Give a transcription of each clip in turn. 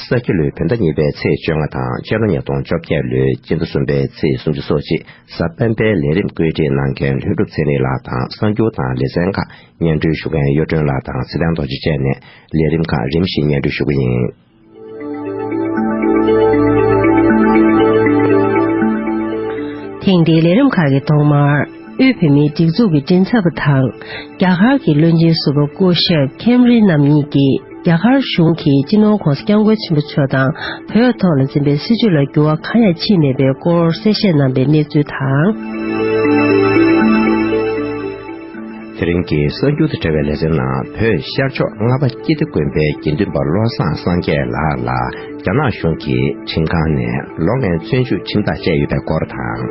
ས་སྐྱ་ལོའི་བོད་ཟླ་གཉིས་པའི་ཚེས་བཅོ་ལྔ་དང་སྤྱི་ལོ་ཉིས་སྟོང་བཅོ་བརྒྱད་ལོའི་སྤྱི་ཟླ་གསུམ་པའི་ཚེས་སུམ་ཅུ་སོགས་ཆེ་ས་སྤེན་པའི་ལས་རིམ་བཀོད་སྒྲིག་གནང་མཁན་ལྷུན་གྲུབ་ཚེ་རིང་ལགས་དང་གསར་འགྱུར་དང་ལེ་ཚན་ཁག་སྙན་སྒྲོན་ཞུ་མཁན་གཡུ་སྒྲོན་ལགས་དང་ཚེ་བརྟན་རྡོ་རྗེ་བཅས་ནས་ལས་རིམ་ཁག་རིམ་བཞིན་སྙན་སྒྲོན་ཞུ་གི་ཡིན། ཐེངས་འདིའི་ལས་རིམ་ཁག་གི་ཐོག་མར་དབུས་བོད་མིའི་སྒྲིག་འཛུགས་ཀྱི་མགྲིན་ཚབ་པ་དང་རྒྱ་གར་གྱི་བློན་ཆེན་ཟུར་པ་སྐུ་ཞབས་ཁེམ་རི་རྣམ་གཉིས་ཀྱིས་རྒྱ་གར་གཞུང་གིས་སྤྱི་ནོར་ཁོངས་སུ་སྐྱབས་མགོན་ཆེན་པོ་མཆོག་དང་བོད་ཐོག་ལ་འཛིན་པའི་སྲིད་བྱུས་ལ་འགྱུར་བ་གང་ཡང་ཕྱིན་མེད་པའི་སྐོར་གསལ་བཤད་གནང་པའི་གནས་ཚུལ་དང། དེ་རིང་གི་གསར་འགྱུར་དང་འབྲེལ་བའི་ལེ་ཚན་ནང་བོད་ཤར་ཕྱོགས་རྔ་པ་སྐྱིད་སྡེ་དགོན་པའི་དགེ་འདུན་པ་བློ་བཟང་སངས་རྒྱས་ལགས་ལ་རྒྱ་ནག་གཞུང་གིས་ཁྲིམས་ཁང་ནས་ལོ་ལྔའི་བཙོན་འཇུག་ཁྲིམས་ཐག་བཅད་ཡོད་པའི་སྐོར་དང།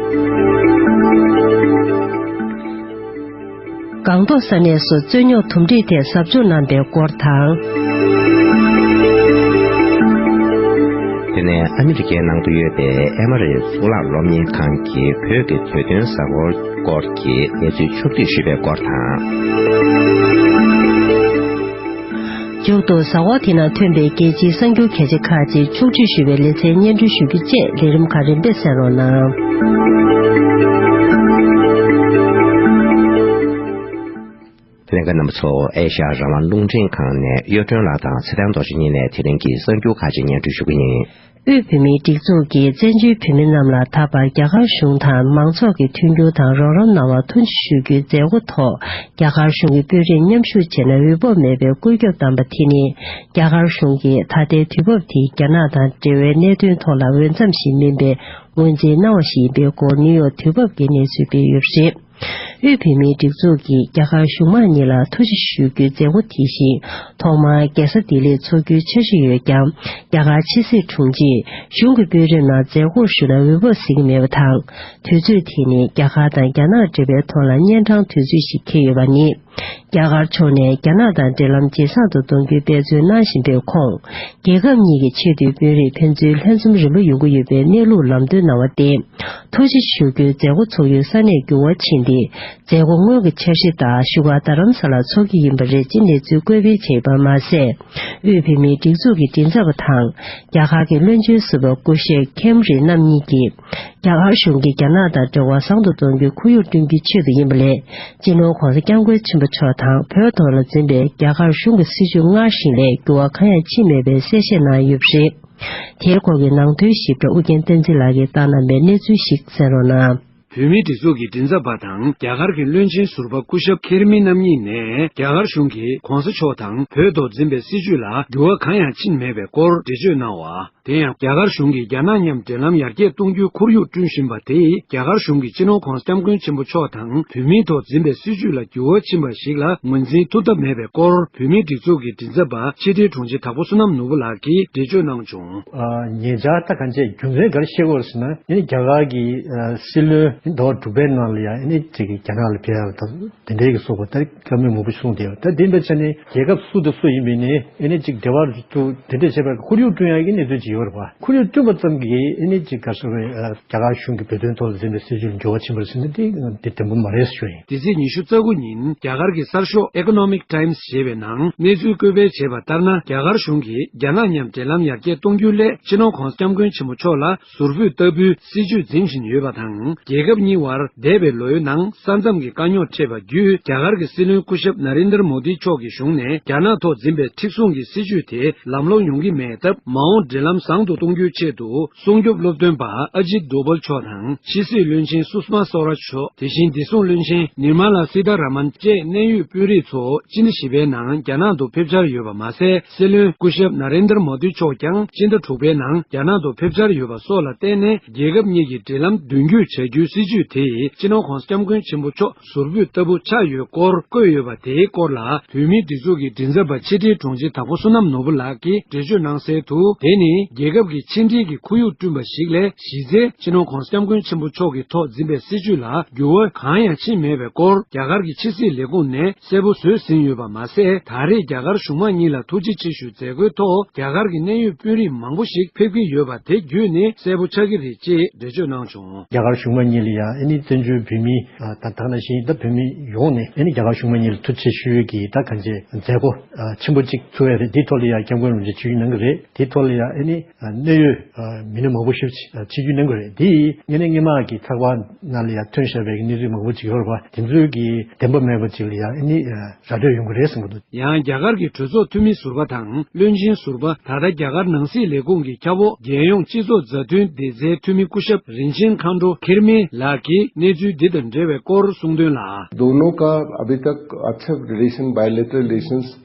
སྒང་ཏོག་ས་གནས་སུ་རྩོད་རྙོག་དུམ་སྒྲིག་ཐད་ཟབ་སྦྱོང་གནང་པའི་སྐོར་དང། དེ་ནས་ཨ་མི་རི་ཀའི་ནང་དུ་ཡོད་པའི་ཨེ་མ་རི་གཙུག་ལག་སློབ་གཉེར་ཁང་གི་བོད་ཀྱི་བོད་དོན་གཟའ་འཁོར་སྐོར་གྱི་གནས་ཚུལ་ཕྱོགས་བསྡུས་ཞུས་པའི་སྐོར་དང། མཇུག་ཏུ་བཟའ་བ་དེ་ན་ཐོན་པའི་རྒྱལ་སྤྱིའི་གསར་འགྱུར་གལ་ཆེ་ཁག་ཅིག་ཕྱོགས་བསྒྲིགས་ཞུ་བའི་ལེ་ཚན་སྙན་སྒྲོན་ཞུ་རྒྱུ་བཅས་ལས་རིམ་ཁག་རིམ་པས་གསན་རོགས་གནང། ལན། རྣམ་པ་ཚོ་ཨེ་ཤ་ཡ་རང་དབང་རླུང་འཕྲིན་ཁང་ནས་གཡོ་སྒྲོན་ལགས་དང་ཚེ་བརྟན་རྡོ་རྗེ་གཉིས་ནས་དེ་རིང་གི་གསར་འགྱུར་ཁག་ཅིག་སྙན་སྒྲོན་ཞུ་གི་ཡིན། དབུས་བོད་མིའི་སྒྲིག་འཛུགས་ཀྱིས་བཙན་བྱོལ་བོད་མི་རྣམས་ལ་ད་བར་རྒྱ་གར་གཞུང་དང་མང་ཚོགས་ཀྱི་མཐུན་འགྱུར་དང་རོགས་རམ་གནང་བར་ཐུགས་རྗེ་ཞུ་རྒྱུའི་མཛད་སྒོ་ཐོག་རྒྱ་གར་གཞུང་གི་དཔོན་རིགས་མཉམ་ཞུགས་བྱས་ན་འོས་བབ་མེད་པའི་བཀོད་ཁྱབ་བཏང་པ་དེ་ནི་རྒྱ་གར་གཞུང་གིས་ད་ལྟའི་དུས་བབ་དེ་རྒྱ་ནག་དང་འབྲེལ་བའི་གནད་དོན་ཐོག་ལ་འོས་འཚམ་ཞིག་མིན་པའི་ངོས་འཛིན་གནང་བ་ཞིག་ཡིན་པའི་སྐོར་ནིའུ་ཡོག་དུས་བབ་ཀྱི་གནས་ཚུལ་སྤེལ་ཡོད་པ་རེད། དབུས་བོད་མིའི་སྒྲིག་འཛུགས་ཀྱིས་རྒྱ་གར་གཞུང་མང་གཉིས་ལ་ཐུགས་རྗེ་ཞུ་རྒྱུའི་མཛད་སྒོ་དེ་བཞིན་ཐོག་མར་རྒྱལ་ས་ལྡི་ལིར་འཚོགས་རྒྱུའི་འཆར་གཞི་ཡོད་ཀྱང་རྒྱ་གར་ཕྱི་སྲིད་དྲུང་ཆེས་གཞུང་གི་དཔོན་རིགས་ནང་མཛད་སྒོར་ཞུགས་ན་འོས་བབ་གཟིགས་ཀྱི་མེད་པ་དང་དུས་ཚོད་དེ་ནི་རྒྱ་གར་དང་རྒྱ་ནག་འབྲེལ་བའི་ཐོག་ལ་གཉན་འཕྲང་དུས་ཚོད་ཞིག་འཁེལ་ཡོད་པ་ནི། རྒྱ་གར་ཕྱོགས་ནས་རྒྱ་ནག་དང་འབྲེལ་ལམ་ཇེ་བཟང་དུ་གཏོང་རྒྱུའི་འབད་བརྩོན་གནང་བཞིན་པའི་ཁོངས། རྒྱལ་ཁབ་གཉིས་ཀྱི་ཆེས་མཐོའི་དཔོན་རིགས་ཕན་ཚུན་ལྷན་འཛོམས་རིང་པོ་ཡོང་གི་ཡོད་པའི་གནས་ལུགས་ལམ་སྟོན་གནང་བ་སྟེ། ཐོག་ཆེ་ཞུ་རྒྱུའི་མཛད་སྒོ་འཚོགས་ཡུལ་ས་གནས་འགྱུར་བ་ཕྱིན་ཏེ་མཛད་སྒོ་སྔོན་གྱི་འཆར་གཞི་ལྟར་བཞུགས་སྒར་རྡ་རམ་ས་ལར་འཚོགས་རྒྱུ་ཡིན་པ་རེད་ཅེས་གནས་ཚུལ་བཀོད་སྤེལ་བྱས་ཡོད་པར་མ་ཟད། དབུས་བོད་མིའི་སྒྲིག་འཛུགས་ཀྱི་མགྲིན་ཚབ་པ་དང་རྒྱ་གར་གྱི་བློན་ཆེན་ཟུར་པ་སྐུ་གཤེགས་ཁེམ་རི་རྣམ་གཉིས་ཀྱིས། རྒྱ་གར་གཞུང་གིས་རྒྱ་ནག་དང་འབྲེལ་བ་བཟང་དུ་གཏོང་རྒྱུའི་ཁོར་ཡུག་བསྐྲུན་རྒྱུའི་ཆེད་དུ་ཡིན་པ་ལས་སྤྱི་ནོར ྋགོང་ས ྋསྐྱབས་མགོན་ཆེན་པོ་མཆོག་དང་བོད་ཐོག་ལ་འཛིན་པའི་རྒྱ་གར་གཞུང་གི་སྲིད་བྱུས་སྔར་བཞིན་ལས་འགྱུར་བ་གང་ཡང་ཕྱིན་མེད་པའི་གསལ་བཤད་གནང་ཡོད་པ་རེད། དེའི་སྐོར་གྱི་ནང་དོན་ཞིབ་ཕྲ་ཨུ་རྒྱན་བསྟན་འཛིན་ལགས་ཀྱིས་བཏང་གནང་པའི་གནས་ཚུལ་ཞིག་གསན་རོགས་གནང། བོད་མིའི་སྒྲིག་འཛུགས་ཀྱི་མགྲིན་ཚབ་པ་དང་རྒྱ་གར་གྱི་བློན་ཆེན་ཟུར་པ་སྐུ་ཞབས་གྷེར་མི་རྣམ་གཉིས་ནས་རྒྱ་གར་གཞུང་གིས ྋགོང་ས་མཆོག་དང་བོད་ཐོག་འཛིན་པའི་སྲིད་བྱུས་ལ་འགྱུར་བ་གང་ཡང་ཕྱིན་མེད་པའི་སྐོར་འགྲེལ་བརྗོད་གནང་བ། དེ་ཡང་རྒྱ་གར་གཞུང་གིས་རྒྱ་ནག་མཉམ་འབྲེལ་ལམ་ཡར་རྒྱས་གཏོང་རྒྱུའི་ཁོར་ཡུག་བསྐྲུན་བཞིན་པ་དེས་རྒྱ་གར་གཞུང་གིས་སྤྱི་ནོར་ཁོངས་སྐྱབས་མགོན་ཆེན་པོ་མཆོག་དང་བུད་མེད་ཐོག་འཛིན་པའི་སྲིད་བྱུས་ལ་འགྱུར་བ་ཕྱིན་པ་ཞིག་ལ་ངོས་འཛིན་ཐུབ་ཐབས་མེད་པའི་སྐོར་བུད་མེད་སྒྲིག་འཛུགས་ཀྱི་མགྲིན་ཚབ་པ་ཕྱི་དྲིལ་དྲུང་ཆེ་དྭགས་པོ་བསོད་ནམས་ནོར་བུ་ལགས་ཀྱིས་འགྲེལ་བརྗོད་གནང་བྱུང། ངེད་ཅག་ལྟ་ག་ཚད་རྒྱུ་མཚན་ག་རེ་ཤེས་དགོས་ཟེར་ན་ཡིན་རྒྱ་གར་གྱི་སྲིད་བློན་མདོ་དྲུག་པའི་ནང་ལ་ཡང་ཡིན་རྒྱ་ནག་ལ་ཕེབས་ཡ་ལ་དང་དེ་འབྲེལ་གྱི་སོགས་པ་ལྟར་བཀའ་མོལ་མང་པོ་གསུངས་བསྡད་ཡོད་ད་དེ་འདྲ་ཆ་ནས་རྒྱལ་ཁབ་སུ་དང་སུ་ཡིན་པའི་ནི་ཨེ་ནི་ཅིག་འབྲེལ་བར་དུ་དེ་འབྲེལ་བྱེད་པར་ཁོར་ཡུག་བསྐྲུན་ཡག་གི་གནས་ཚུལ་ཅིག་ཡོད་པར་བ། ཁོར་ཡུག་བསྐྲུན་པ་ཙམ་གྱིས་ཨེ་ནི་ཅིག་ག་ས་བའི། རྒྱ་གར་གཞུང་གིས་བོད་དོན་ཐོག་ལ་འཛིན་པའི་སྲིད་བྱུས་ལ་འགྱུར་བ་ཕྱིན་པར་སེམས་ན་དེ་དེ་དོན་པོ་མ་རེད་ཞུ་ཡིན། དེ་ཚེས་ཉི་ཤུ་རྩ་དགུ་ཉིན་རྒྱ་གར་གྱི་གསར་ཤོག Economic Times ཞེས་པའི་ནང་གནས་ཚུལ་བཀོད་སྤེལ་བྱས་པ་ལྟར་ན་རྒྱ་གར་གཞུང་གིས་རྒྱ་ནག་མཉམ་འབྲེལ་ལམ་ཡར་རྒྱས་གཏོང་རྒྱུའི་སླད་ཕྱི་ནང་ཁོངས་སྐྱབས་མགོན་ཆེན་མོ་མཆོག་ལ་ཟུར་ཕུད་ལྟ་བུའི་སྲིད་ཇུས་འཛིན་བཞིན་ཡོད་པ་དང་རྒྱལ་ཁབ་གཉིས་དབར་འདས་པའི་ལོ་ཡོད་ནང་ས་མཚམས་ཀྱི་དཀའ་རྙོག་འཕྲད་པ་བརྒྱུད་རྒྱ་གར་གྱི་སྲིད་བློན་སྐུ་ཞབས Narendra Modi མཆོག་གི་གཞུང་ནས་རྒྱ་ནག་ཐོག་འཛིན་པའི་མཁྲེགས་བཟུང་གི་སྲིད་ཇུས་དེ་ལམ་ལྷོང་ཡོང་གི་མེད་སྟབས་མ་འོངས་འབྲེལ་ལམ་བཟང་དུ་གཏོང་རྒྱུའི་ཆེད་དུ་སྲུང་སྐྱོབ་སློབ་སྟོན་པ Ajit Doval མཆོག་དང་ཕྱི་སྲིད་བློན་ཆེན Sushma Swaraj མཆོག་དེ་བཞིན་བདེ་སྲུང་བློན་ཆེན Nirmala Sitharaman བཅས་གནད་ཡོད་དཔོན་རིགས་ཚོ་སྤྱི་ཟླ་བཞི་པའི་ནང་རྒྱ་ནག་ཏུ་ཕེབས་འཆར་ཡོད་པ་མ་ཟད། སྲིད་བློན་སྐུ་ཞབས Narendra Modi མཆོག་ཀྱང་སྤྱི་ཟླ་དྲུག་པའི་ནང་རྒྱ་ནག་ཏུ་ཕེབས་འཆར་ཡོད་པ་སོགས་ལ་བརྟེན་ནས་རྒྱལ་ཁབ་གཉིས་ཀྱི་འབྲེལ་ལམ་མདུན་སྐྱོད་བྱ་རྒྱུའི་སྲིད་ཇུས་དེ་སྤྱི་ནོར་ཁོངས་སྐྱབས་མགོན་ཆེན་པོ་མཆོག་ཟུར་ཕུད་ལྟ་བུ་ཆགས་ཡོད་སྐོར་བཀོད་ཡོད་པ་དེའི་སྐོར་ལ་བོད་མིའི་སྒྲིག་འཛུགས་ཀྱི་མགྲིན་ཚབ་པ་ཕྱི་དྲིལ་དྲུང་ཆེ་དྭགས་པོ་བསོད་ནམས་ནོར་བུ་ལགས་ཀྱིས་འགྲེལ་བརྗོད་གནང་གསལ་དུ་དེ་ནི་རྒྱལ་ཁབ་ཀྱི་ཕྱི་འབྲེལ་གྱི་ཁོར་ཡུག་བསྐྲུན་པ་ཞིག་ལས་གཞི་རྩའི་སྤྱི་ནོར་ཁོངས་སྐྱབས་མགོན་ཆེན་པོ་མཆོག་གི་ཐོག་འཛིན་པའི་སྲིད་ཇུས་ལ་འགྱུར་བ་གང་ཡང་ཕྱིན་མེད་པའི་སྐོར་རྒྱ་གར་གྱི་ཕྱི་སྲིད་ལས་ཁུངས་ནས་གསལ་པོ་བཟོས་ཟིན་ཡོད་པ་མ་ཟད་ད་རེས་རྒྱ་གར་གཞུང་མང་གཉིས་ལ་ཐུགས་རྗེ་ཆེ་ཞུ་མཛད་སྒོའི་ཐོག་རྒྱ་གར་གྱི་གནད་ཡོད་དཔོན་རིགས་མང་པོ་ཞིག་ཕེབས་ཀྱི་ཡོད་པ་དེ་བརྒྱུད་ནས་གསལ་པོ་ཆགས་ཀྱི་རེད་ཅེས་འགྲེལ་བརྗོད་གནང་བྱུང། རྒྱ་གར་གཞུང་མང་གཉིས་ལ་ཡང་ཨནི་བཙན་བྱོལ་བོད་མི་དང་དག་ན་གཞིན་དང་བོད་མི་ཡོངས་ནས་ཨནི་རྒྱ་གར་གཞུང་མང་གཉིས་ལ་ཐུགས་རྗེ་ཆེ་ཞུ་ཡོད་ཀྱི་ད་ག་མཇལ་མཛད་སྒོ་ཆེན་པོ་གཅིག་ཚུགས་ཡ་རེད་འདིའི་ཐོག་ལ་ཡང་སྐྱབས་མགོན་རིན་པོ་ཆེ་ཆུ་ཡིས་གནང་གི་རེད། དེའི་ཐོག་ལ་ཡང་ཨེ་ནི་གནད་ཡོད་མི་སྣ་མང་པོ་ཞིག་ཕྱི་རྒྱུད་གླེང་དགོས་རེད། དེ་ཡིས་གནད་སྙན་མ་གི་ཚགས་པར་ནང་ལ་ཡང་ཐོན་བཞག་པའི་གནས་ཚུལ་མང་པོ་ཅིག་ཡོད་པ་དེ་ཚོའི་གི་བདེན་པ་མེད་པ་ཅིག་ལ་ཡང་ཨེ་ནི་ར་སྤྲོད་ཡོང་གི་རེད་གསུངས་པ་འདུག། ཡང་རྒྱ་གར་གྱི་གྲོས་ཚོགས་འཐུས་མི་ཟུར་པ་དང་བློན་ཆེན་ཟུར་པ་ད་ལྟ་རྒྱ་གར་ནང་སྲིད་ལས་ཁུངས་ཀྱི་ཁྱབ་འོག་རྒྱལ་ཡོངས་སྤྱི་ཚོགས་མཛའ་མཐུན་བདེ་རྩའི་འཐུས་མི་སྐུ་ཞབས་རིན་ཆེན་མཁའ་འགྲོ་ཁེར་མེ་ལགས་ཀྱིས་གནས་ཚུལ་འདི་དང་འབྲེལ་བའི་སྐོར་གསུངས་དོན་ལ། དོན་ལ།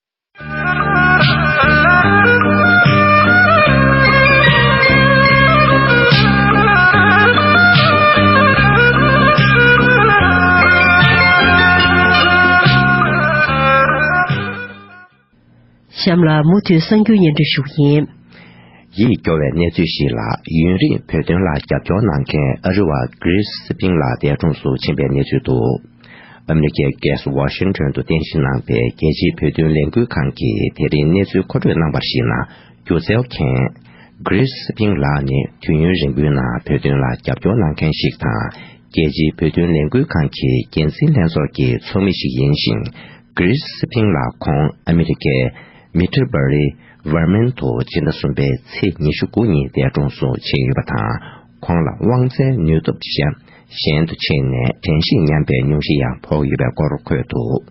གཤམ་ལ་མུ་མཐུད་གསར་འགྱུར་སྙན་སྒྲོན་ཞུ་ཡིན། ཡིད་སྐྱོ་བའི་གནས་ཚུལ་ཞིག་ལ་ཡུན་རིང་བོད་དོན་ལ་རྒྱབ་སྐྱོར་གནང་མཁན་ཨ་རི་བ Chris Spink ལགས་འདས་གྲོངས་སུ་ཕྱིན་པའི་གནས་ཚུལ་དུ། ཨ་མེ་རི་ཁའི་རྒྱལ་ས་ཝ་ཤིང་ཏོན་དུ་རྟེན་གཞི་གནང་པའི་རྒྱལ་སྤྱིའི་བོད་དོན་ལས་འགུལ་ཁང་གིས་དེ་རིང་གནས་ཚུལ་མཁོ་སྤྲོད་གནང་པར་གཞིགས་ན་སྒྱུ་རྩལ་མཁན། Grace Hsing། ལགས་ནི་དུས་ཡུན་རིང་པོའི་ནང་བོད་དོན་ལ་རྒྱབ་སྐྱོར་གནང་མཁན་ཞིག་དང་རྒྱལ་སྤྱིའི་བོད་དོན་ལས་འགུལ་ཁང་གི་འགན་འཛིན་ལྷན་ཚོགས་ཀྱི་ཚོགས་མི་ཞིག་ཡིན་ཞིང། Grace Hsing། ལགས་ཁོང་ཨ་མེ་རི་ཁའི། Middlebury། Vermont། དུ་སྤྱི་ཟླ་གསུམ་པའི་ཚེས་ཉི་ཤུ་དགུ་ཉིན་འདས་གྲོངས་སུ་ཕྱིན་ཡོད་པ་དང། ཁོང་ལ་དབང་རྩའི་ནུས་སྟོབས་གཞན་ཞན་དུ་ཕྱིན་ནས་དྲན་གཤིས་ཉམས་པའི་སྙུང་གཞི་ཡང་ཕོག་ཡོད་པའི་སྐོར་འཁོད་འདུག་